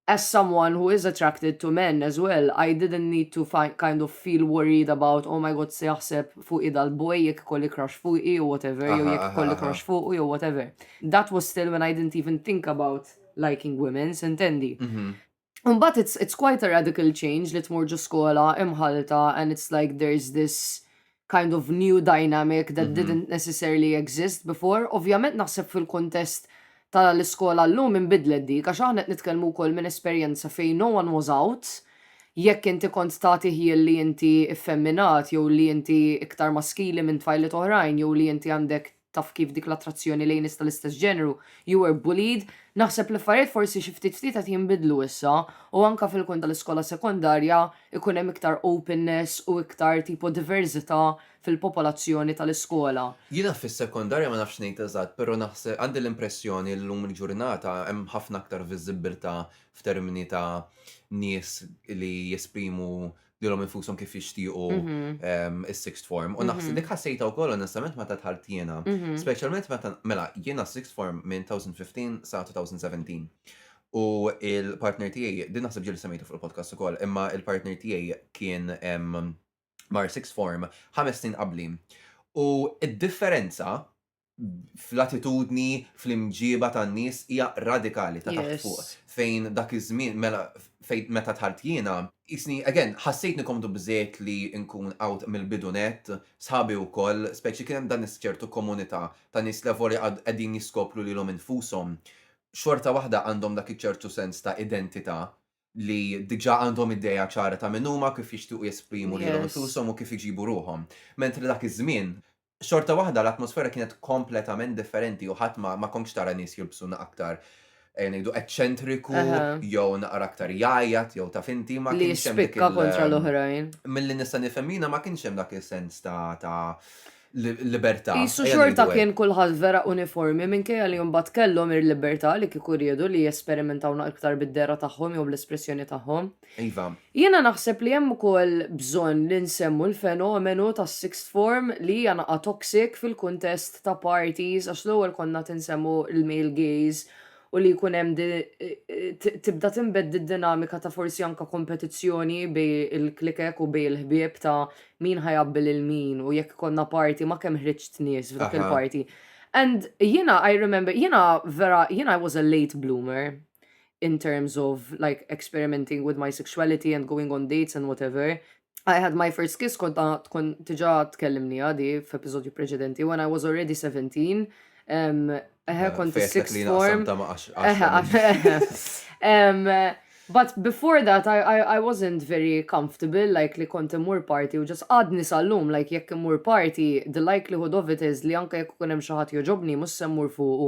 As someone who is attracted to men as well I didn't need to kind of feel worried about oh my god se jaħseb fuqi dal boy jekk ikolli crush fuqi jew whatever jew jekk ikolli crush fuqu jew whatever. That was still when I didn't even think about liking women, sintendi. Mhm. Imbagħad it's, it's quite a radical change li tmur ġo skola imħallta and it's like there's this kind of new dynamic that didn't necessarily exist before. Ovvjament naħseb fil-kuntest tal-iskola llum inbidlet dik għax aħna qed nitkellmu wkoll minn esperjenza fejn no one was out. Jekk inti kont tagħti ħjiel li inti ffemminat jew li inti iktar maskili minn tfajliet oħrajn jew li inti għandek taf kif dik l-attrazzjoni lejn nies tal-istess ġeneru, you were bullied, naħseb li affarijiet forsi xi ftit ftit qed jinbidlu issa u anke fil-kun tal-iskola sekondarja jkun hemm iktar openness u iktar tipo diversità fil-popolazzjoni tal-iskola. Jiena fis-sekondarja ma nafx ngħid eżatt però naħseb għandi l-impressjoni li llum il-ġurnata hemm ħafna aktar viżibbiltà f'termini ta' nies li jesprimu lilhom infushom kif jixtiequ mhm. is-sixth form. U naħseb mhm. dik ħassejta wkoll onestament meta tħalt jiena. Mhm. Speċjalment meta mela jiena sixth form minn 2015 sa 2017. U il-partner tiegħi, din naħseb ġieli semmejtu fuq il-podcast ukoll, imma il-partner tiegħi kien mar sixth form ħames snin qabli. U id-differenza fl-attitudni, fl-imġieba tan-nies hija radikali ta' taħt fuq. Fejn dak iż-żmien mela fejn meta tħart jiena, isni again ħassejtni komdu biżejjed li nkun out mill-bidu nett, sħabi wkoll, speċi kien hemm dan iċ-ċertu komunità ta' nies li avolja għad qegħdin jiskopru lilhom infushom, xorta waħda għandhom dak iċ-ċertu sens ta' identità li diġà għandhom idea ċara ta' min huma, kif jixtiequ jesprimu lilhom infushom u kif iġibu ruħhom. Mentri dak iż-żmien xorta waħda l-atmosfera kienet kompletament differenti u ħadd ma, ma konkx tara nies jilbsu na aktar eh, ngħidu eċċentriku Aha. jew naqra aktar jgħajjat jew taf inti ma Li kienx hemm dik jispikka il- kontra l-oħrajn. Milli nista' nifhem jiena ma kienx hemm dak is-sens ta' ta' li- libertà. Isu ejja xorta ngħidu hekk. kien kulħadd vera uniformi minkejja li mbagħad kellhom ir-libertà li kieku riedu li jesperimentaw naqra iktar bid-dehra tagħhom jew bl-espressjoni tagħhom. Iva. Jiena naħseb li hemm ukoll bżonn li nsemmu l-fenomenu tas-sixth form li hija naqa' toxic fil-kuntest ta' parties għax l-ewwel konna qed insemmu l-male gaze u li jkun hemm tibda tinbedd d-dinamika ta' forsi anke kompetizzjoni bejn il-klikek u bejn il-ħbieb ta' min ħa jgħabbi lil min u jekk ikollna party ma' kemm ħriġt nies f'dak il-party. And jiena I remember, jiena vera, jiena I was a late bloomer. in terms of like experimenting with my sexuality and going on dates and whatever. I had my first kiss kont tkun tiġa tkellimni għadi f'episodju preċedenti when I was already 17. Eħe kont sixth form. But before that I, I, I wasn't very comfortable like li kont imur party u just għadni sal-lum like jekk imur party the likelihood of it is li anke jekk kun hemm xi ħadd joġobni mhux se mmur fuqu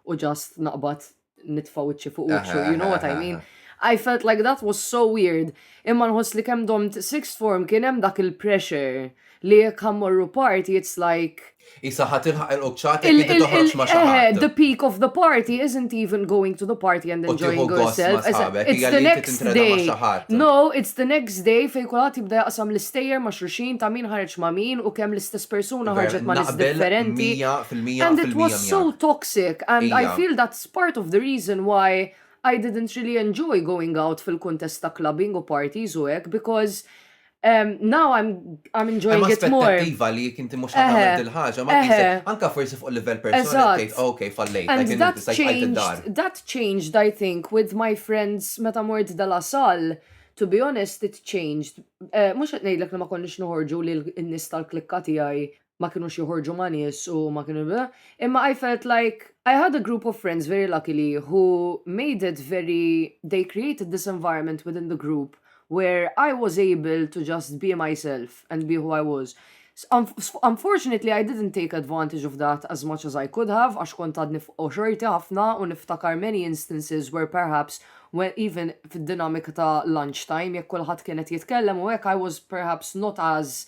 u just naqbad nitfa' wiċċi fuq wiċċu, you know what I mean? I felt like that was so weird. Imma nħoss li kemm domt sixth form kien hemm dak il-pressure li jekk ħammorru party, it's like. Isa ħat ilħaq il-qċat li toħroġ ma eh, The peak of the party isn't even going to the party and enjoying yourself. It's the next day. No, it's the next day fej kulħadd jibda jaqsam l-istejjer ma' xruxin ta' min ħareġ ma' min u kemm l-istess persuna ħarġet ma' nis differenti. And it was so toxic. toxic and I feel that's part of the reason why I didn't really enjoy going out fil-kuntest ta' clubbing u parties u hekk because Um, now I'm, I'm enjoying Hemm it more. aspettattiva li jek inti mhux qed tagħmel Eħe, dil-ħaġa, ma eħe. tqisek anke forsi fuq livell personali Eżatt. tgħid, ok, fallejt, And like, that inti stajt tqajt id-dar. changed, that changed I think with my friends meta mort De La Salle, to be honest it changed. Eh, Mhux qed ngħidlek li ma konniex noħorġu lil in-nies tal-klikka tiegħi ma kinux joħorġu ma' nies u ma kienu imma I felt like I had a group of friends very luckily who made it very they created this environment within the group where I was able to just be myself and be who I was. Unfortunately I didn't take advantage of that as much as I could have għax kont għadni f'qo xorti ħafna u niftakar many instances where perhaps when even fid-dinamika ta' lunch time jekk kulħadd kien qed jitkellem u hekk I was perhaps not as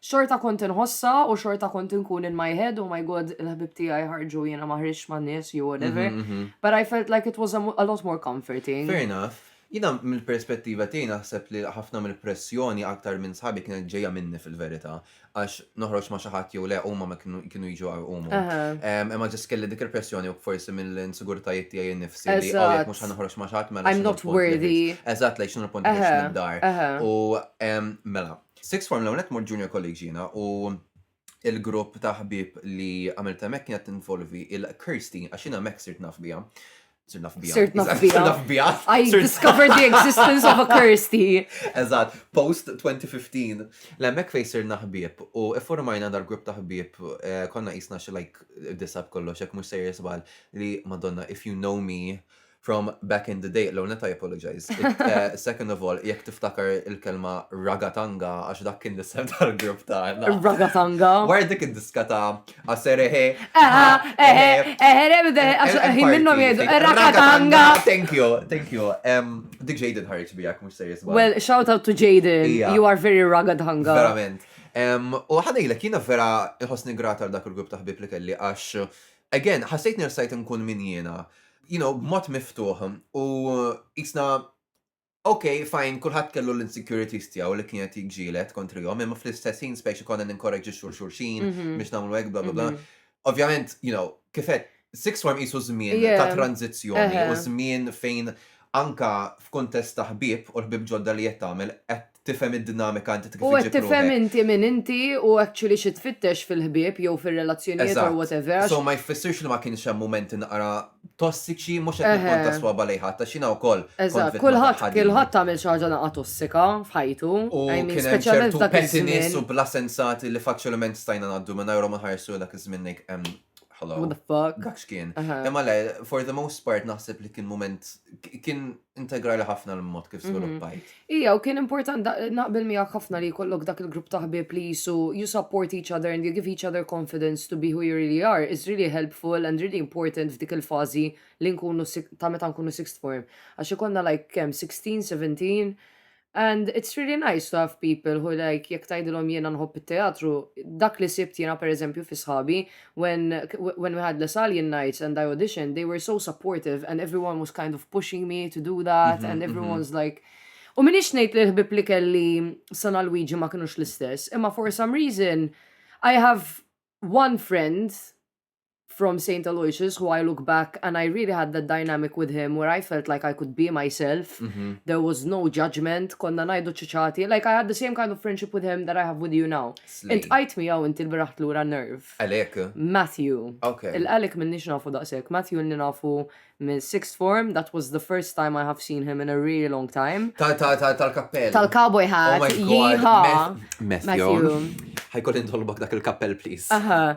Xorta kont inħossha u xorta kont inkun in my head, oh my God, il-ħbieb tiegħi ħarġu jiena ma ħriġtx man-nies jew whatever. But I felt like it was a a lot more comforting. Fair enough. Jiena mill-perspettiva tiegħi naħseb li ħafna mill-pressjoni aktar minn sħabi kienet ġejja minni fil-verità għax noħroġ ma' xi ħadd jew le huma ma kienu kienu jiġu jqawwmu. Imma just kelli dik il-pressjoni u forsi mill-insigurtajiet tiegħi innifsi li oh jekk mhux ħa noħroġ ma' xi ħadd mela x'inhu l-punt li ħriġt. Eżatt, like x'inhu l-punt li ħriġt mid-dar. U mela, Sixth form l-ewwel nett mort junior college jiena u l-grupp ta' ħbieb li għamilt hemmhekk kienet tinvolvi il-Kirsty għax jiena hemmhekk sirt naf biha. Sir naf bija. Sir naf bija. Sir naf bija. I discovered the existence of a Kirsty. Eżat, post 2015. L-emmek fej sir naħbib u formajna dar grupp taħbib eh, konna jisna xi like disab kollox, jek mux sejr jisbal li madonna, if you know me, From back in the day, l-ewwel nett I apologise. Second of all, jekk tiftakar il-kelma ragatanga għax dak kien l-isem tal-grupp tagħna. Ragatanga. Wara dik id-diska ta' aserehe. Aha, ehe, ehe, rebde, għax ħin minnhom jgħidu ragatanga. Thank you, thank you. Dik Jaden ħarġ bijak mhux serjus. Well, shout out to Jaden. You are very ragatanga. Verament. U ħanejlek jiena vera nħossni grata għal dak il-grupp ta' ħbib li kelli għax again, ħassejt nirsajt nkun min jiena. you know, b'mod miftuħ u jisna Ok, fajn, kullħat kellu l-insecurities tiegħu li kienet jġilet kontrihom, imma fl-istess ħin spejx ikon ninkoraġġi xul xulxin mhm. biex nagħmlu hekk bla bla bla. Mhm. Ovvjament, you know, kifet six form isu żmien ta' tranzizzjoni u żmien fejn anka f'kuntest ta' ħbib u ħbib ġodda li qed tagħmel qed tifhem id-dinamika inti kif iġib ruħek. U qed tifhem inti min inti u actually xi tfittex fil-ħbieb jew fir-relazzjonijiet or whatever għax. So ma jfissirx li ma kienx hemm mumenti naqra tossiċi, mhux qed nippunta s-swaba lejn ħadd għax jiena wkoll kont vittma ta' ħadidi. Eżatt, kulħadd għamel xi ħaġa naqra tossika f'ħajtu. U kien hemm ċertu pettiness u bla sensati li faċilment stajna ngħaddu mingħajrhom u nħarsu lejn dak iż-żmien ngħid ehm hello. What the fuck. Dak x'kien. Imma le, for the most part naħseb li kien mument kien integrali ħafna l-mod kif mhm. sviluppajt. Ija, u kien important naqbel miegħek ħafna li jkollok dak il-grupp ta' ħbieb li jisu you support each other and you give each other confidence to be who you really are is really helpful and really important f'dik il-fażi li nkunu ta' meta nkunu sixth form. Għax ikonna like kemm 16, 17, And it's really nice to have people who like jekk tgħidilhom jiena nħobb it-teatru, dak li sibt jiena pereżempju fi sħabi when when we had Les Alien Nights and I auditioned, they were so supportive and everyone was kind of pushing me to do that mm-hmm, and mhm. everyone's mm-hmm. like U minix ngħid li l-ħbib li kelli San Luigi ma kinux l-istess, imma for some reason I have one friend from Saint Aloysius who I look back and I really had that dynamic with him where I felt like I could be myself, there was no judgement, konna ngħidu ċċiċati, like I had the same kind of friendship with him that I have with you now. Int qajt miegħu inti l-bieraħ lura nerv. Għalik? Matthew. Ok. Il-Alec m'ilniex nafu daqshekk, Matthew ilni nafu minn sixth form, that was the first time I have seen him in a really long time. Tal-kappell. Tal-cowboy hat, yeehaw! Matthew. Ħajkolli nitolbok dak il-kappell please. Aha.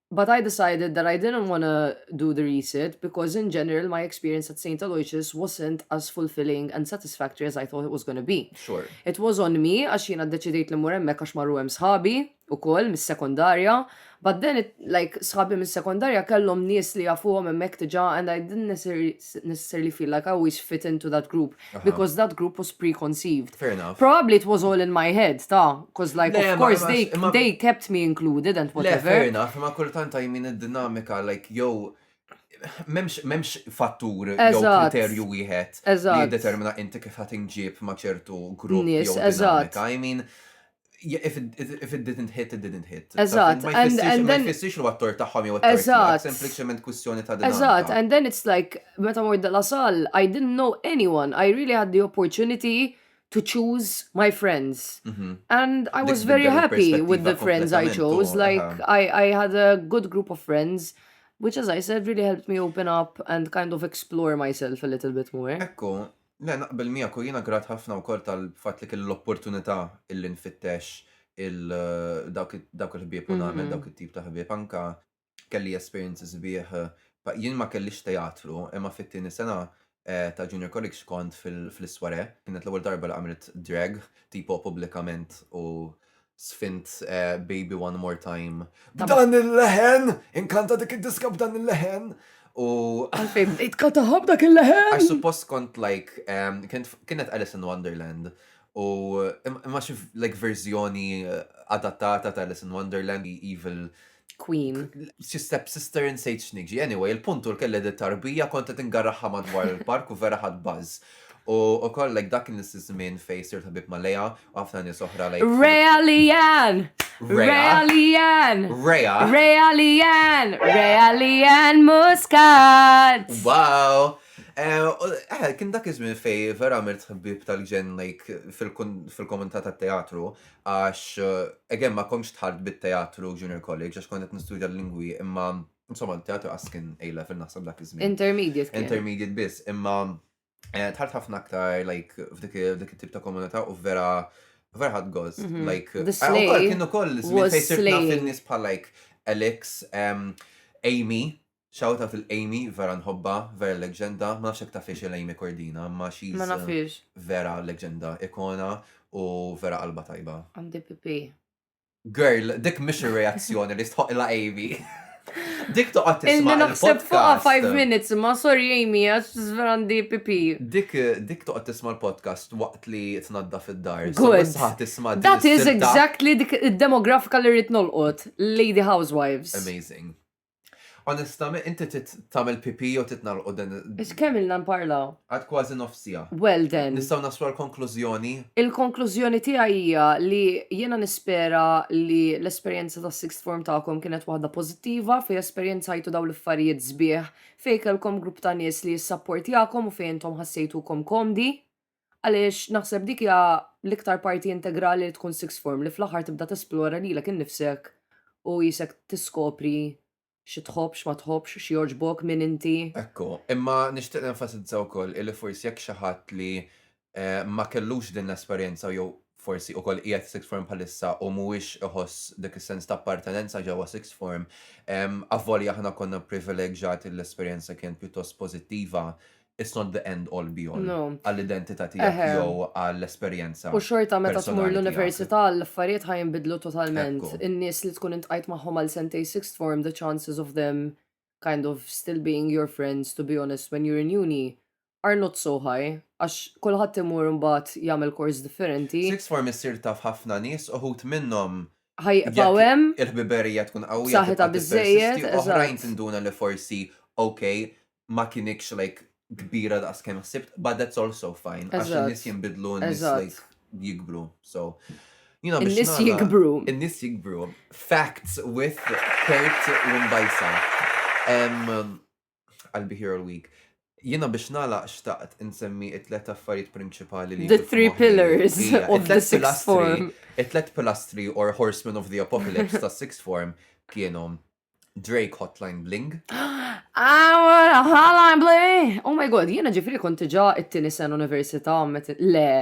But I decided that I didn't wanna do the resit because in general my experience at Saint Aloysius wasn't as fulfilling and satisfactory as I thought it was gonna be. Sure. It was on me għax jiena ddeċidejt li mmur hemmhekk għax marru hemm sħabi ukoll mis-sekondarja but then it, like sħabi mis-sekondarja kellhom nies li jafuhom hemmhekk diġà and I didn't necessarily feel like I always fit into that group. because that group was preconceived. Fair enough. Probably it was all in my head, ta' because like of course they, they kept me included and whatever. Le, fair enough, ma kultant I mean id-dinamika like jow memx, memx fattur jew kriterju wieħed li determina inti kif ħatinġib ma ċertu grupp jew dinamika. I mean, if it, if it didn't hit, it didn't hit. Eżatt. Ma jfissirx li għattor taħħom jew għattor sempliciment kwistjoni ta' dinamika. Eżatt, and then it's like, meta mort della sal, I didn't know anyone, I really had the opportunity to choose my friends. Mm -hmm. And I was very happy with the friends I chose, uh-huh. like I, I had a good group of friends. Which as I said really helped me open up and kind of explore myself a little bit more. Ekku, Le, naqbel miegħek u jiena grat ħafna wkoll tal-fatt li kelli l-opportunità illi nfittex dawk il-ħbieb u nagħmel dawk it-tip ta' ħbieb. Anka kelli esperjenzi sbieħ, jien ma kellix teatru, imma fit-tieni sena ta' Junior College kont fl-iswarè, kienet l-ewwel darba li għamilt drag tipo pubblikament u Sfint Baby One More Time. B'dan il-leħen, inkanta dik id-diska b'dan il-leħen. U. Għalfejn, itka taħab dak il-leħen. Għax suppost kont like, kienet Alice in Wonderland. U imma xif like verżjoni eh, adattata ta' Alice in Wonderland, Evil Queen. Xi step sister in Sage Nigġi. Anyway, il-punt u l-kelle di tarbija kontet ingarraħħa madwar il-park u vera ħad buzz. U ukoll like dak il-nisizmin fej sirt ħabib ma leja u ħafna nies oħra like. Realian! Realian! Rea! Realian! Realian Muscat! Wow! Eh, eh, kien dak iż-żmien fej vera għamilt ħbib tal-ġen like fil-komunità tat-teatru, għax again ma komx tħart bit-teatru junior college għax kont qed nistudja l-lingwi imma insomma teatru għas kien A level naħseb dak iż-żmien. Intermediate. Intermediate biss imma eh, tħart ħafna aktar like f'dik it-tip ta' komunità u vera vera ħad gost. Mhm. Like, kienu koll, fejn sirna fin-nies bħal like Alex, Amy, Shout out lil Amy vera nħobbha, vera leggenda, ma nafx jekk tafhiex lil Amy Cordina imma she's Ma nafhiex. vera leggenda, ikona u vera qalbha tajba. Għandi pipì. Girl, dik mhix ir-reazzjoni li jistħoqqilha Amy. Dik toqgħod tisma' il-podcast. Ilni naħseb fuqha five minutes imma sorry Amy għax vera għandi pipì. Dik dik toqgħod tisma' l-podcast waqt li tnaddaf id-dar. Good. Tisma' din That is exactly dik id-demografika li rrid nolqot, lady housewives. Amazing. Onestament, inti tagħmel pipi jew titnalqu din. Ix kemm ilna nparlaw? Għad kważi nofsija. Well then. Nistgħu naslu l-konklużjoni? Il-konklużjoni tiegħi hija li jiena nispera li l-esperjenza ta' sixth form tagħkom kienet waħda pożittiva fejn esperjenzajtu dawn l-affarijiet sbieħ fejn kellkom grupp ta' nies li jissapportjakom u fejn intom ħassejtukom komdi. Għaliex naħseb dik hija l-iktar parti integrali li tkun sixth form li fl-aħħar tibda tesplora lilek innifsek u qisek tiskopri xi tħobb, x'ma tħobbx, x'jogħġbok, min inti. Ekku, imma nixtieq nenfasizza wkoll illi forsi jekk xi ħadd li ma kellux din l-esperjenza jew forsi ukoll qiegħed sixth form bħalissa u mhuwiex iħoss dik is-sens ta' appartenenza ġewwa sixth form, avolja aħna konna pprivileġġjati li l-esperjenza kienet pjuttost pożittiva, it's not the end all be all għall-identità tiegħek jew għall-esperjenza. U xorta meta tmur l-università l-affarijiet ħa jinbidlu totalment. In-nies li tkun iltqajt magħhom għal sentejn sixth form the chances of them kind of still being your friends to be honest when you're in uni are not so high għax kulħadd imur imbagħad jagħmel course differenti. Sixth form issir taf ħafna nies uħud minnhom ħa jibqgħu hemm. Il-ħbiberija tkun qawwija. B'saħħitha biżżejjed. Oħrajn tinduna li forsi ok ma kienikx like kbira daqs kemm ħsibt, but that's also fine. Għax Eżatt. in-nies jinbidlu, in-nies Eżatt. like jikbru. So, you know, biex In-nies nagħlaq- jikbru. In-nies jikbru. Facts with Kurt Lumbajsa. Em, I'll be here all week. Jiena biex nagħlaq xtaqt insemmi it-tlet affarijiet prinċipali li The jiġu three f'moħħi. pillars Ija, of it-tlet the sixth pilastri- form. It-tlet pilastri or horsemen of the apocalypse ta' sixth form kienu Drake Hotline Bling. Ah, Hotline Bling! Oh my god, jiena ġifri kont ġa it-tini sen università le.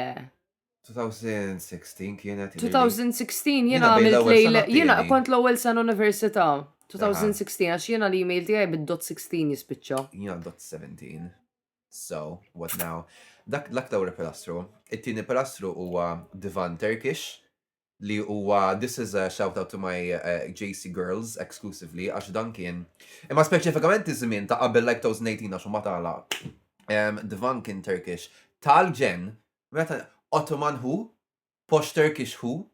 2016 kienet. 2016 jiena għamilt lejl, jiena kont l-ewwel sen università. 2016 għax jiena l-email tiegħi bid-dot 16 jispiċċa. Jiena dot 17. So, what now? Dak l-aktar pilastru. It-tieni pilastru huwa divan Turkish li huwa this is a shout out to my JC girls exclusively għax dan kien imma speċifikament iż-żmien ta' qabel like 2018 għax ma tala Dvan kien Turkish tal-ġen meta Ottoman hu posh Turkish hu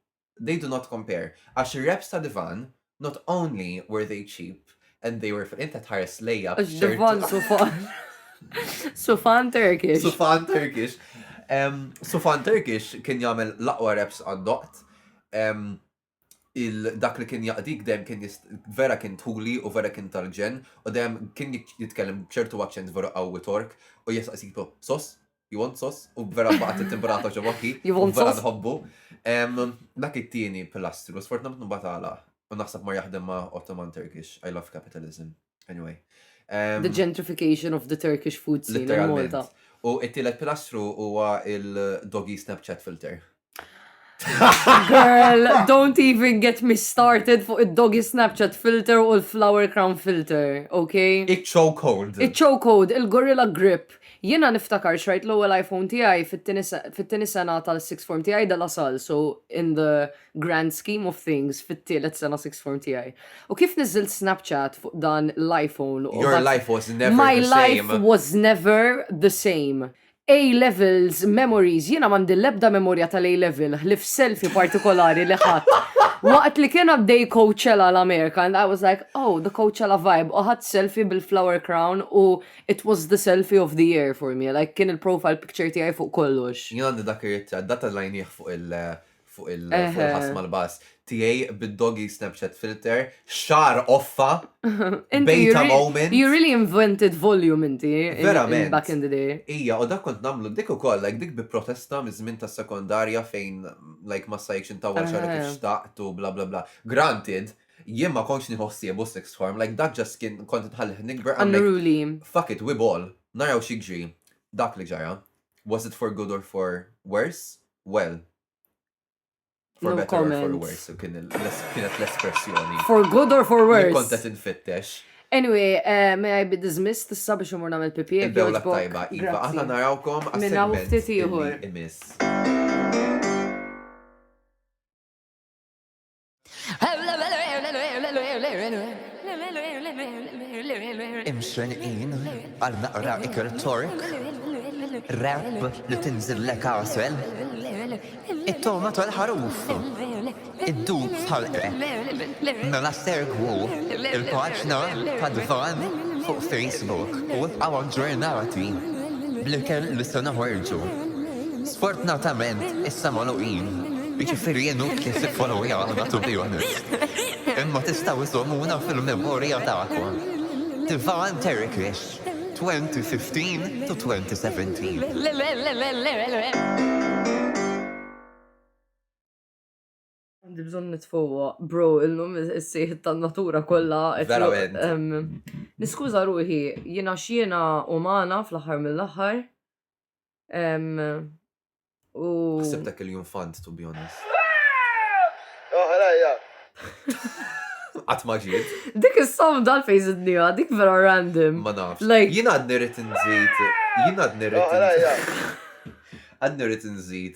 they do not compare għax ir-reps ta' Dvan Not only were they cheap and they were fil inta tħares lejja. Ġdivon sufan. Sufan Turkish. Sufan Turkish. Sufan Turkish kien jagħmel l-aqwa reps għandoqt. Il-dak li kien jaqdik dem kien vera kien tuli u vera kien tal-ġen u dem kien jitkellem ċertu accent vera qawwi tork u jisqasitu sos Juventus, u vera baqgħet it-timbrata ġo moħħi. Juventus. Vera nħobbu. Dak it-tieni pilastru, sfortunatament nbatala, u naħseb ma jaħdem ma' Ottoman Turkish. I love capitalism. Anyway. Um, the gentrification of the Turkish food scene in Malta. U it-tielet pilastru huwa il-doggy Snapchat filter. Girl, don't even get me started fuq id-doggy Snapchat filter u l-flower crown filter, ok? Iċ-chokehold. Iċ-chokehold, il-gorilla grip. Jiena niftakar xrajt l-ewwel iPhone tiegħi fit-tieni sena tal-sixth form tiegħi de la salle, so in the grand scheme of things fit-tielet sena sixth form tiegħi. U kif niżilt Snapchat fuq dan l-iPhone. Your life was never the same. My life was never the same. A levels memories, jiena m'għandi l-ebda memorja tal-A level ħlief selfie partikolari li ħadt waqt li kien għaddej Coachella l-Amerika and I was like oh the Coachella vibe u ħadt selfie bil-flower crown u it was the selfie of the year for me like kien il-profile picture tiegħi fuq kollox. Jien għandi dak ir-ritratt, dak tellajnieh fuq il fuq il-ħass mal-bass tiegħi bid-doggy Snapchat filter, xar offa, beta moment. You really invented volume inti. Verament. Back in the day. Ija, u dak kont namlu dik ukoll, like dik bi protesta miż-żmien tas-sekondarja fejn like ma sajkx intawwal xar kif eh. xtaqt u bla bla bla. Granted, jien ma kontx nieħu ħsiebu six form, like dak ġas kien kont nħallih nikber. Unruly. Fuck it, we ball. Naraw xi dak li ġara. Was it for good or for worse? Well, for no better comment. or for worse, kienet l-espressjoni. For good or for worse. Kontet infittex. Anyway, uh, may I be dismissed issa biex imur namel pipi. Il-bewla tajba, Iva, aħna narawkom għas-segment imis. Imxenqin għal naqra ikel tork, rap li tinżillek għasel, it-toma tal-ħaruf, id-dub tal-qreb, mela segwu il-paġna tad-dvan fuq Facebook u ibqgħu aġġornati bl-ikel li se noħorġu. Sfortunatament issa magħluqin, jiġifieri jien u Kies iffollowjaw aħna to be honest. Imma tistgħu żżommuna fil-memorja tagħkom. Divine Terrakish, 2015 to 2017. Għandi bżon nitfowa, bro, illum s-sejħ tan-natura kollha. Verament. Niskuża ruħi, jiena xiena umana fl-aħħar mill-aħħar. U. Sibtek il-jum fant, to be honest. Oħrajja. Għat maġid. Dik il-som dal fejz id-nija, dik vera random. Ma nafx. Jien għad nirrit nżid. Jien għad nirrit nżid. Għad nirrit nżid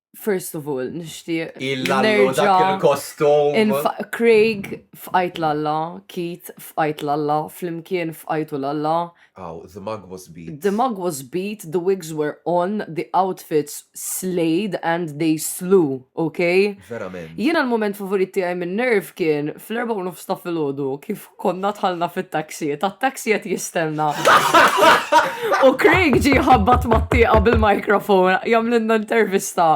first of all, nishtiq. Il-lallu dak il-kostum. Craig f'qajt l-alla, Keith f'qajt l-alla, flimkien f'qajtu l-alla. Oh, the mug was beat. The mug was beat, the wigs were on, the outfits slayed and they slew, ok? Verament. Jiena l-moment favorit tiegħi minn nerv kien fl-erba' u nofs ta' filgħodu kif konna tħalna fit-taxi, ta' taxi qed jistenna. U Craig ġi ħabbat mat-tieqa bil-mikrofon jagħmlilna intervista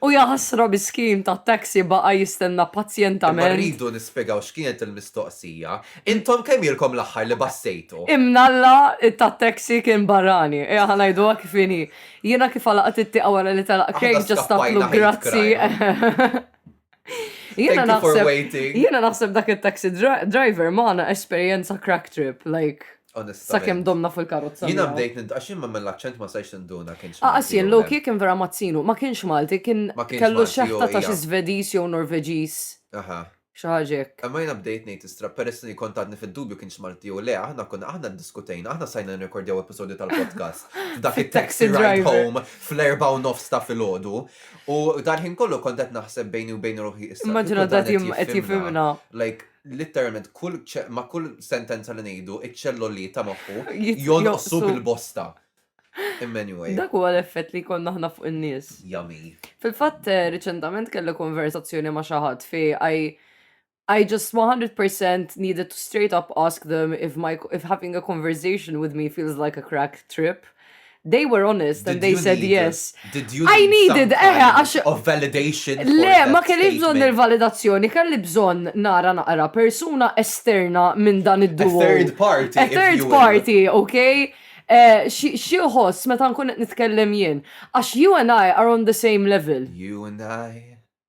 u jaħasra miskin ta' taxi baqa' jistenna pazjentament. Rridu nispjegaw x'kienet il-mistoqsija. Intom kemm ilkom l-aħħar li bassejtu? Imnalla ta' taxi kien barrani. Ejja ħa ngħiduha kif inhi. Jiena kif għalaqt it-tieqa wara li telaq Craig ġa staqtlu grazzi. Jena naħseb, jena naħseb dak il-taxi driver maħna esperienza crack trip, like. Sakem domna fil-karozza. Jina bdejt nint, għax jimma mill-accent ma sajx ninduna kienx. Għas ah, jien low kik kien vera mazzinu, ma kienx Malti, kien kellu xeħta ta' xi Svedis jew Norveġis. Aha. Xaġek. Imma jina bdejt nejt istra, peress li kont għadni fil-dubju kienx Malti u le, aħna konna aħna diskutejna, aħna sajna nrekordjaw episodju tal-podcast. Dak il-taxi ride home fl-erba u nofs ta' fil-ħodu, U dal-ħin kollu kont qed naħseb bejni u bejn ruħi issa. Immaġina ta' tim qed jifhimna. Like, literalment kull ma' kull sentenza li ngħidu, iċ-ċelloli ta' moħħu jonqsu bil-bosta. Anyway. Dak huwa l-effett li konna ħna fuq in-nies. Jami. Fil-fatt, eh, riċentament kelli konversazzjoni ma' xi ħadd fi I I just 100% needed to straight up ask them if my if having a conversation with me feels like a crack trip. They were honest did and they said need, yes. Did you I needed eh għax of validation. Le, ma kellix bżonn il-validazzjoni, kelli bżonn nara naqra persuna esterna minn dan id-duo. A third party. A third party, okay? Eh, xieħos meta nkun qed nitkellem jien. Għax you and I are on the same level. You and I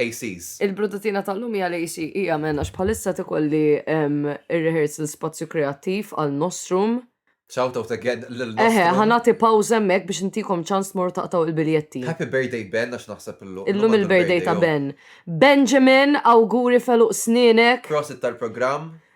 ACs. Il-brudatina tal-lum hija l-AC hija men għax bħalissa qed ikolli ir-rehearsal spazju kreattiv għal Nostrum. Shout out again lil Nostrum. Eħe, ħa nagħti pawż hemmhekk biex intikom ċans tmorru taqtgħu il-biljetti. Happy birthday Ben għax naħseb illum. Illum il-birthday ta' Ben. Benjamin, awguri f'għeluq snienek. Prosit tal-programm.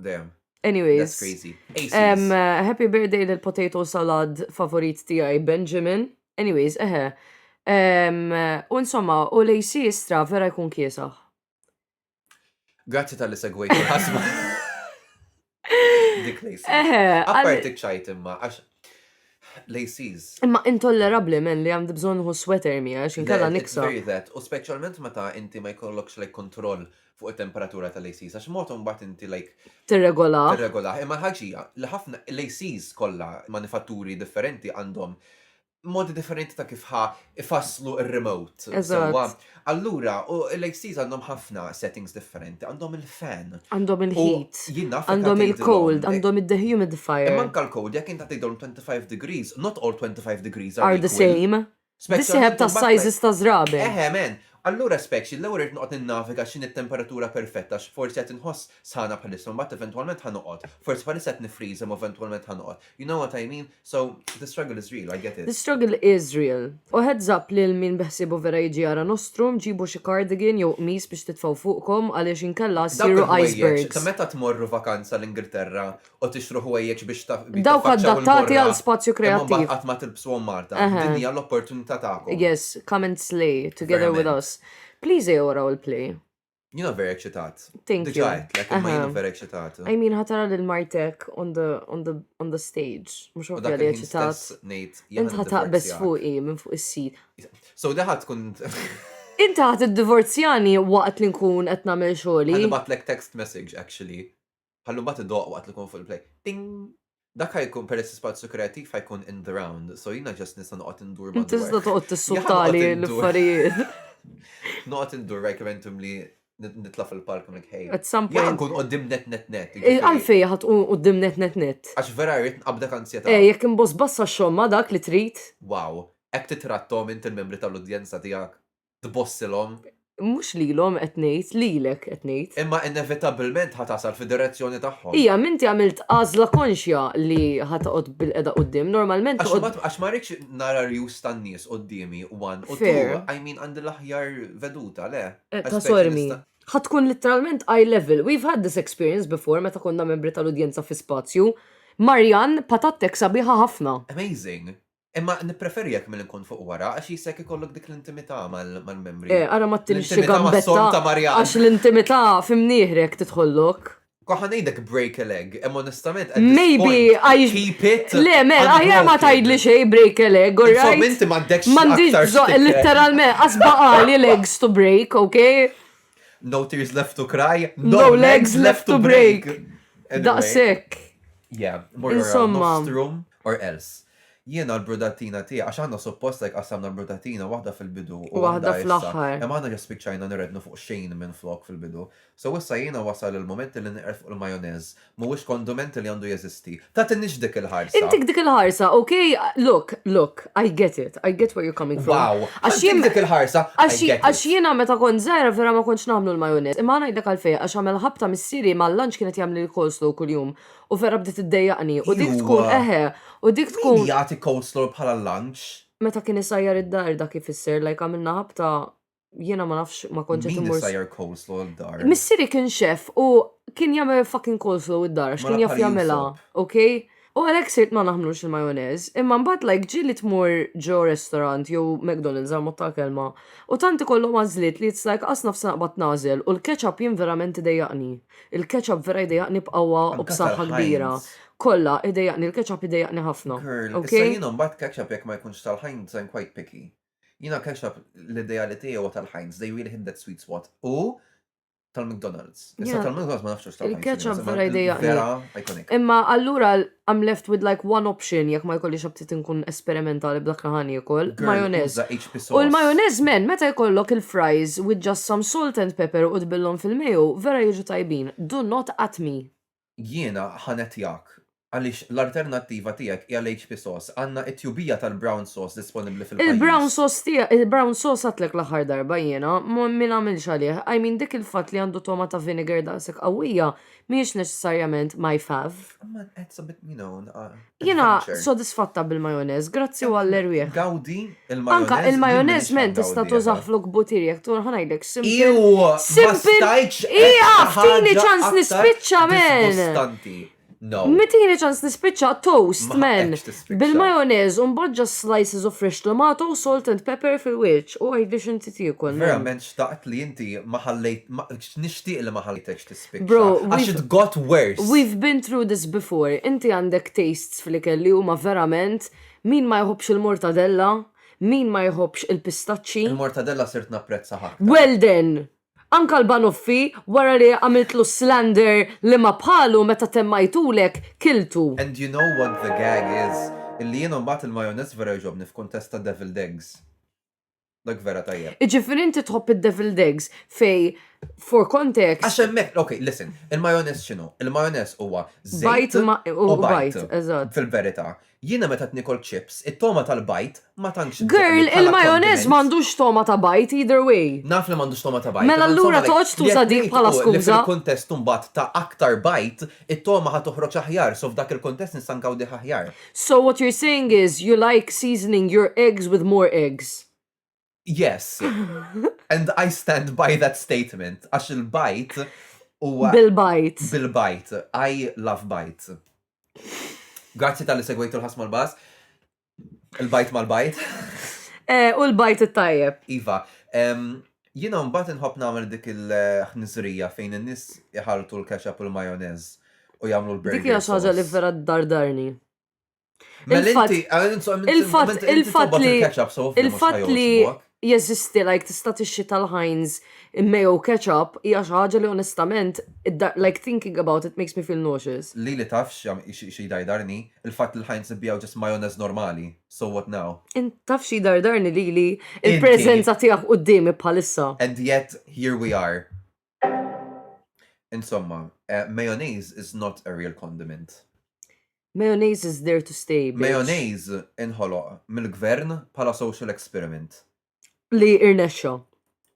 Damn. Anyways. That's crazy. Um, happy birthday lil potato salad favorit tiegħi Benjamin. Anyways, eħe. Um, u insomma, u lejsi istra vera jkun kiesaħ. Grazzi tal-li segwejt il-ħasma. Dik lejsi. Eħe. Apparti ċajt imma, għax laces. Imma intollerabli men li għamdi bżon hu sweater mi għax inkella niksa. U specialment meta inti ma jkollokx lej kontroll fuq it-temperatura tal-ACs għax mod imbagħad inti like tirregolah. Tirregolah. Imma l-ħaġija li ħafna l-ACs kollha manifatturi differenti għandhom modi differenti ta' kif ħa ifasslu r-remote. Eżatt. Allura, l-ACs għandhom ħafna settings differenti, għandhom il-fan. Għandhom il-heat. Għandhom il-cold, għandhom id-dehumidifier. Manka l-cold, jekk inta tgħidhom 25 degrees, not all 25 degrees are the same. Bis-sieħeb tas-sizes ta' żraben. Eħe, man! Allura speċi, l-ewwel irrid noqgħod ninnaviga x'inhi t-temperatura perfetta għax forsi qed inħoss sħana bħalissa u mbagħad eventwalment ħa noqgħod. Forsi bħalissa qed niffriża imma eventwalment ħa noqgħod. You know what I mean? So, the struggle is real, I get it. The struggle is real. U heads up lil min beħsiebu vera jiġi jara Nostrum, ġibu xi cardigan jew qmis biex titfgħu fuqkom għaliex inkella ssiru icebergs. Dawk il-ħwejjeġ ta' meta tmorru vakanza l-Ingilterra u tixtru ħwejjeġ biex taf. Dawk adattati għal spazju kreattiv. Imma qatt ma tilbsuhom Marta. Din hija l-opportunità tagħkom. Yes, come and slay together with us. Please ejjew waraw il-play. Jina vera eċitat. Thank you. Diġajt, like, ma jina vera eċitat. I mean, ħatara lil martek on the, on the, on the stage. Mux għu vera eċitat. Inta ħataq bes fuqi minn fuq is-sit. So li ħat tkun. Inta ħat id-divorzjani waqt li nkun qed nagħmel xogħli. Ħabatlek text message actually. Ħallu mbagħad idoqq waqt li jkun fuq il-play. Ting! Dak ħajkun peress l-ispazju kreattiv ħajkun in the round, so jiena ġast nista' noqgħod indur ma' Tista' toqgħod tissuttali l-affarijiet. Noqgħod indur rajk eventum li nitla' fil-palk minn ħej. At some point. Jien nkun qoddim net net net. Eh, għalfej ħadd qoddim net net net. Għax vera rrid nqabda kanzjeta. Eh, jekk imboss bassa xogħol ma' dak li trid. Wow, hekk titrattom int il-membri tal-udjenza tiegħek. tbossilhom. Mhux lilhom qed ngħid, lilek qed ngħid. Imma inevitabbilment ħa tasal fid-direzzjoni tagħhom. Ija, m'inti għamilt għażla konxja li ħa toqgħod bil-qeda quddiem, normalment Għax toqgħod. ma- għax ma rridx nara rjus tan-nies quddiemi one u Fair. two, I mean għandi l-aħjar veduta, le. Eh, I Ta' specie sormi. nista- Ħa tkun literalment eye level. We've had this experience before meta konna membri tal-udjenza fi spazju. Marjan patattek sabiħa ħafna. Amazing. Imma nippreferjek milli nkun fuq wara għax jisek ikollok dik l-intimità mal-membri. Eh, ara ma tinx xi gambetta għax l-intimità fimnieħrek tidħollok. Koħan ngħidek break a leg, imma onestament Maybe I keep it. Le, mel, aħjar ma tgħidli xejn break a leg, all right? Insomma, inti m'għandekx. M'għandix literalment asba għali legs to break, okay? No tears left to cry, no, legs left to break. Daqsek. Yeah, more Insomma. or else. Jiena l-brudatina tiegħi, għax aħna suppost hekk qassamna l-brudatina, waħda fil-bidu u U waħda waħda issa. fl-aħħar. Imma aħna ġa spiċċajna nirrednu fuq xejn minflok fil-bidu. So issa jiena wasal il-mument li niqred fuq il-majonez. Mhuwiex kondument li għandu jeżisti. Tagħtinix dik il-ħarsa. Intik dik il-ħarsa, ok? Look, look, I get it, I get where you're coming from. Wow! Għax Ħantik jien dik il-ħarsa, I għax get għax it. jiena meta kont żgħira vera ma kontx nagħmlu l-majonez. Imma ngħidlek għalfejn, għax għamel ħabta missieri mal-lunch kien qed jagħmlili coleslaw kuljum. U vera bdiet iddejjaqni. U dik tkun Iwa. eħe. U dik Min tkun jagħti coleslaw bħala lunch? meta kien isajjar id-dar dak ifisser like għamilna ħabta jiena ma nafx ma kontx qed Min immur. isajjar coleslaw d-dar? Missieri kien chef u kien jagħmel fucking coleslaw id-dar għax Ma kien jaf nafx jagħmilha, jinsab. okay? U għalhekk sirt ma naħmlux il-majonez, imma mbagħad like ġieli tmur ġo restaurant jew McDonald's għall-mod tal-kelma u tant ikollhom għażliet li it's like qas nafsi naqbad nagħżel u l-ketchup jien verament idejjaqni. Il-ketchup vera jdejaqni b'qawwa u b'saħħa kbira. Kollha, idejaqni l-ketchup idejaqni ħafna. Girl, issa jien imbagħad ketchup jekk ma jkunx tal-Heinz I'm quite picky. Jiena ketchup l-ideali tiegħi huwa tal-Heinz, they really hit that sweet spot, u tal-McDonald's. Issa tal-McDonald's ma nafx hux tal-Heinz. Il-ketchup vera jdejaqni. Vera iconic. Imma allura I'm left with like one option jekk ma jkollix aptit inkun esperimentali b'dak li ħan jiekol. Majonez. U l-majonez men, meta jkollok il-fries with just some salt and pepper u tbillhom fil-mayo, vera jiġu tajbin. Do not at me. Jiena ħanet jak. Għaliex l-alternattiva tiegħek hija l-HP sauce. Għandna it-tjubija tal-brown sauce disponibbli fil-pajjiż. Il-brown sauce tiegħek, il-brown sauce għadtlek l-aħħar darba jiena, ma nagħmilx għalih. I mean dik il-fatt li għandu togħma ta' vinegar daqshekk qawwija, mhijiex neċessarjament my fav. Ma qed sabit min hawn. ah, Jiena adventure. sodisfatta bil-majonez, grazzi għall-erwieħ. Gawdi il-majonez. Anka il-majonez men tista' tużah flok butir jekk tu ħanajdlek simple. Iw, ma Simple. stajċ. Ija, ftini ċans nispiċċa men. No. Mitini ċans nispiċċa toast Ma men. ħaqekx tispiċċa. Bil-majonez un badġa slices of fresh tomato, salt and pepper fil-wirċ u għidli xinti tiekol. men. Verament xtaqt li inti ma ħallejt, ma- nixtieq li ma ħallejtekx Bro, għax it got worse. We've been through this before. Inti għandek tastes fl-ikel li huma verament min ma jħobbx il-mortadella, min ma jħobbx il-pistaċċi. Il-mortadella sirt napprezza ħafna. Well then! Anka l-banuffi wara li għamiltlu slander li ma bħalu meta temmajtulek kiltu. And you know what the gag is? Illi jiena mbagħad il-majonez vera jogħġobni f'kuntest ta' deviled eggs. Dak vera tajjeb. Iġifiri inti tħobb id-deviled eggs fej for context. Għax hemmhekk, ok, listen, il-majonez x'inhu? Il-majonez huwa żejt u bajt. Fil-verità, jiena meta tnikol chips, it-toma tal-bajt ma tantx. Girl, il-majonez m'għandux toma ta' bajt either way. Naf li m'għandux toma ta' bajt. Mela allura toqgħodx tuża dik bħala skuża. Fil-kuntest imbagħad ta' aktar bajt, It-togħma ħa toħroġ aħjar, so f'dak il-kuntest nista' nkawdih aħjar. So what you're saying is you like seasoning your eggs with more eggs. Yes. And I stand by that statement għax il-bajt huwa Bil-bajt. Bil-bajt. I love bajt. Grazzi tal-li segwejtu l-ħasma l-bas. Il-bajt mal-bajt. Eh, u l-bajt it-tajjeb. Iva, jina mbagħad inħobb nagħmel dik il-ħniżrija fejn in-nies iħaltu l-ketchup u l-majonez u jagħmlu l-burger. Dik hija xi ħaġa li vera dardarni. Mela il-fatt li il-fatt li jeżisti like tista' tixtri tal-Heinz mayo ketchup hija xi ħaġa li onestament like thinking about it makes me feel nauseous. Lili taf x'jdajdarni? Il-fatt li l-Heinz ibigħu just mayonez normali. So what now? Int taf x'jdajdarni lili? Il-preżenza tiegħek quddiemi bħalissa. And yet here we are. Insomma, mayonnaise is not a real condiment. Mayonnaise is there to stay, bitch. Mayonnaise inħoloq mill-gvern bħala social experiment. Li irnexxa.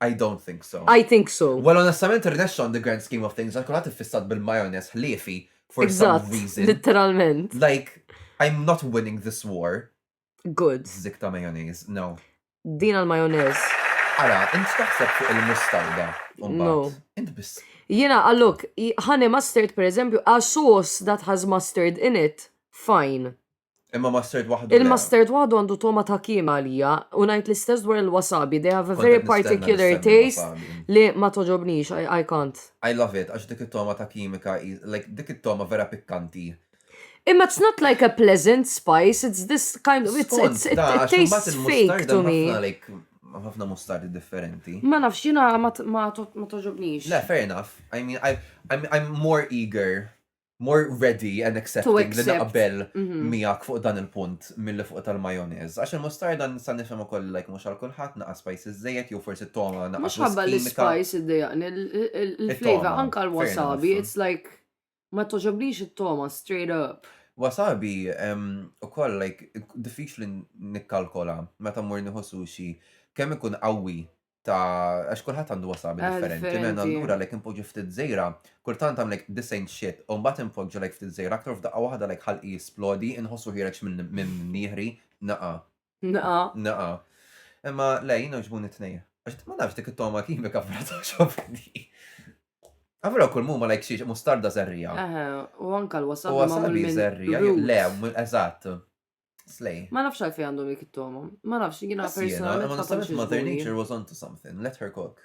I don't think so. I think so. Well, onestament irnexxa on the grand scheme of things, għal kulħadd iffissat bil-majonez ħliefi for some reason. Literalment. Like, I'm not winning this war. Good. Zik ta' mayonnaise, no. Din għal mayonnaise. Ara, int taħseb fuq il-mustarda. No. Int biss. Jena, għallok, honey mustard per eżempju, a sauce that has mustard in it, fine. Imma mustard waħdu. Il-mustard waħdu għandu toma ta' kima għalija, u najt l-istess dwar il-wasabi, they have a very particular taste li ma toġobnix, I can't. I love it, għax dik it-toma ta' kimika, like dik it-toma vera pikkanti. Imma it's not like a pleasant spice, it's this kind of, it's, it's, it, it tastes fake to me. ħafna mustard differenti. Ma nafx jina ma toġobnix. Le, fair enough. I mean, I, I'm, I'm more eager, more ready and accepting li naqbel mhm. miegħek fuq dan il-punt mill fuq tal-majonez. Għax il-mustarda nista' nifhem ukoll like mhux għal kulħadd naqa' spices żejjed jew forsi toma naqa' Mhux ħabba l-spice id-dejaqni, il-flavor anka l-wasabi, it's like Ma togħġobnix it-togħma straight up. Wasabi ukoll like diffiċli nikkalkola meta mmur nieħu sushi kemm ikun qawwi ta' għax kulħadd għandu wasabi ah, differenti. Minn allura like impoġġi ftit żejra, kultant għam like this ain't shit, u mbagħad impoġġi like ftit żejra aktar f'daqqa waħda like ħalqi jisplodi, inħossu ħireġ minn nieħri naqa. Naqa. Naqa. Imma le, jina ġbun it-tnejja. Għax ma nafx dik it-toma kimika fra ta' xofni. Għavra kull mumma lajk xiex mustarda zerrija. U anka l-wasab. U wasabi zerrija. Le, eżatt. Slej. Ma nafx għalfej għandhom dik it-toma. Ma nafx, jina personalment. Ma nafx, mother nature was onto something. Let her cook.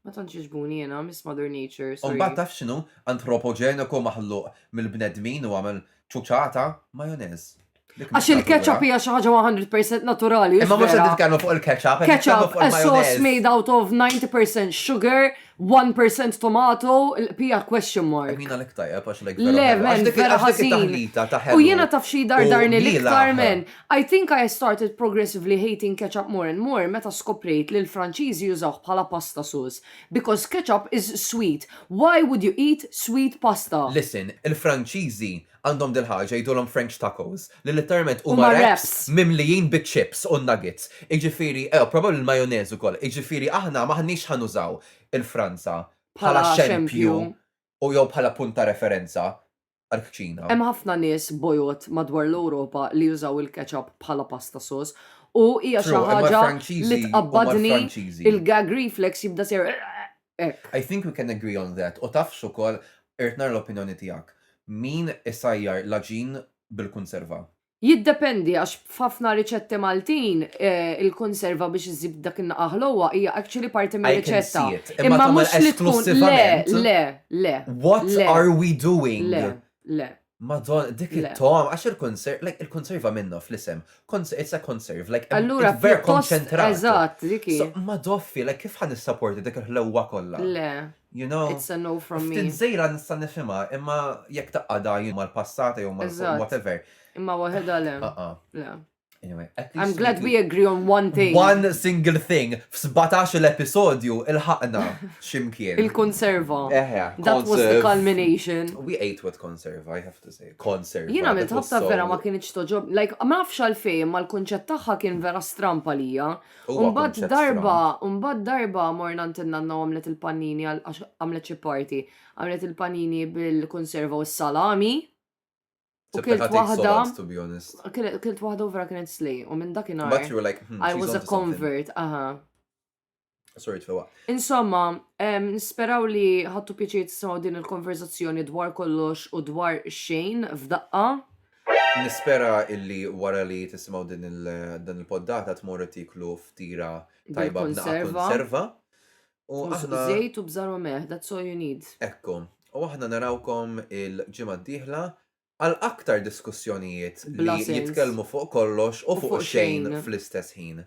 Ma tantx iġbuni jena, Miss Mother Nature. U mbagħad taf x'inhu antropogeniku maħluq mill-bnedmin u għamel ċuċata majonez. Għax il-ketchup hija xi ħaġa 100% naturali. Imma mhux qed nitkellmu fuq il-ketchup. Ketchup, a sauce made out of 90% sugar, 1% tomato, l-pija question mark. Mina l tajja, għax l Le, men, vera ħażin. U jiena taf xi dar darni l-iktar men. I think I started progressively hating ketchup more and more meta skoprejt li l-Franċiżi jużawh bħala pasta sus. Because ketchup is sweet. Why would you eat sweet pasta? Listen, il-Franċiżi Għandhom dil-ħaġa jgħidulhom French tacos, li litteralment huma wraps mimlijin biċ-chips u n-nuggets. Jiġifieri, eww, probabbli l-majonez ukoll. Jiġifieri aħna m'aħniex ħa nużaw il-Franza bħala xempju u jew bħala punt ta' referenza għall-kċina. Hemm ħafna nies bojod madwar l-Ewropa li jużaw il-ketchup bħala pasta sauce u hija xi ħaġa li tqabbadni, il-gag reflex jibda jsir Hekk. I think we can agree on that. U taf x'ukoll, irrid nara l-opinjoni tiegħek. Min isajjar l-għaġin bil-kunserva? Jiddependi għax f'ħafna riċetti Maltin il-kunserva biex iżżid dak in-naqgħa ħlewwa hija actually parti mir-riċetta. I can see it. Imma tagħmel esklussivament? Imma mhux li tkun le, le, le. What are we doing? Le, le. Madon, dik Le. it-tom, għax il-konserv, like, il-konserva minnu fl-isem. Cons- It's a conserve, like, Allura it's very pjuttost konċentrat. eżatt dik hi. So, ma doffi, like, kif ħan nissaporti dik il-ħlewwa kollha? Le, You know? it's a no from me. Ftit żejra nista' nifhimha, imma jekk taqqada jien mal-passata jew mal Eżatt. whatever. Imma waħedha le. Ah, ah. Le. Anyway, I'm glad we agree on one thing. One single thing. F-17 l-episodju il-ħakna ximkien. Il-konserva. Eħe. That was the culmination. We ate with conserva, I have to say. Conserva. Jina minn tħabta vera ma kienieċ toġob. Like, ma nafx għalfej, ma l-konċett taħħa kien vera strampa lija. Umbad darba, umbad darba morna ntinna n għamlet il-panini għamlet xi party. Għamlet il-panini bil-konserva u s-salami. U Sepp kilt tatik waħda- solat, to be honest. Kienet- Kilt waħda u vera kienet slej, u minn But dakinhar you were like, hmm, I she's was a onto something. convert, aha. Sorry, tfewa. Insomma, em, nisperaw li ħattu pjaċir tisimgħu din il-konverzazzjoni dwar kollox u dwar xejn f'daqqa. Nispera illi wara li tisimgħu din il- dan il-poddata tmorru tiklu ftira tajba b'naqa' Bil-konserva. konserva. U aħna. Żejt u bżarma meħ, that's all you need. Ekku. U aħna narawkom il-ġimgħa d-dieħla għal aktar diskussjonijiet li jitkellmu fuq kollox u fuq xejn fl-istess ħin.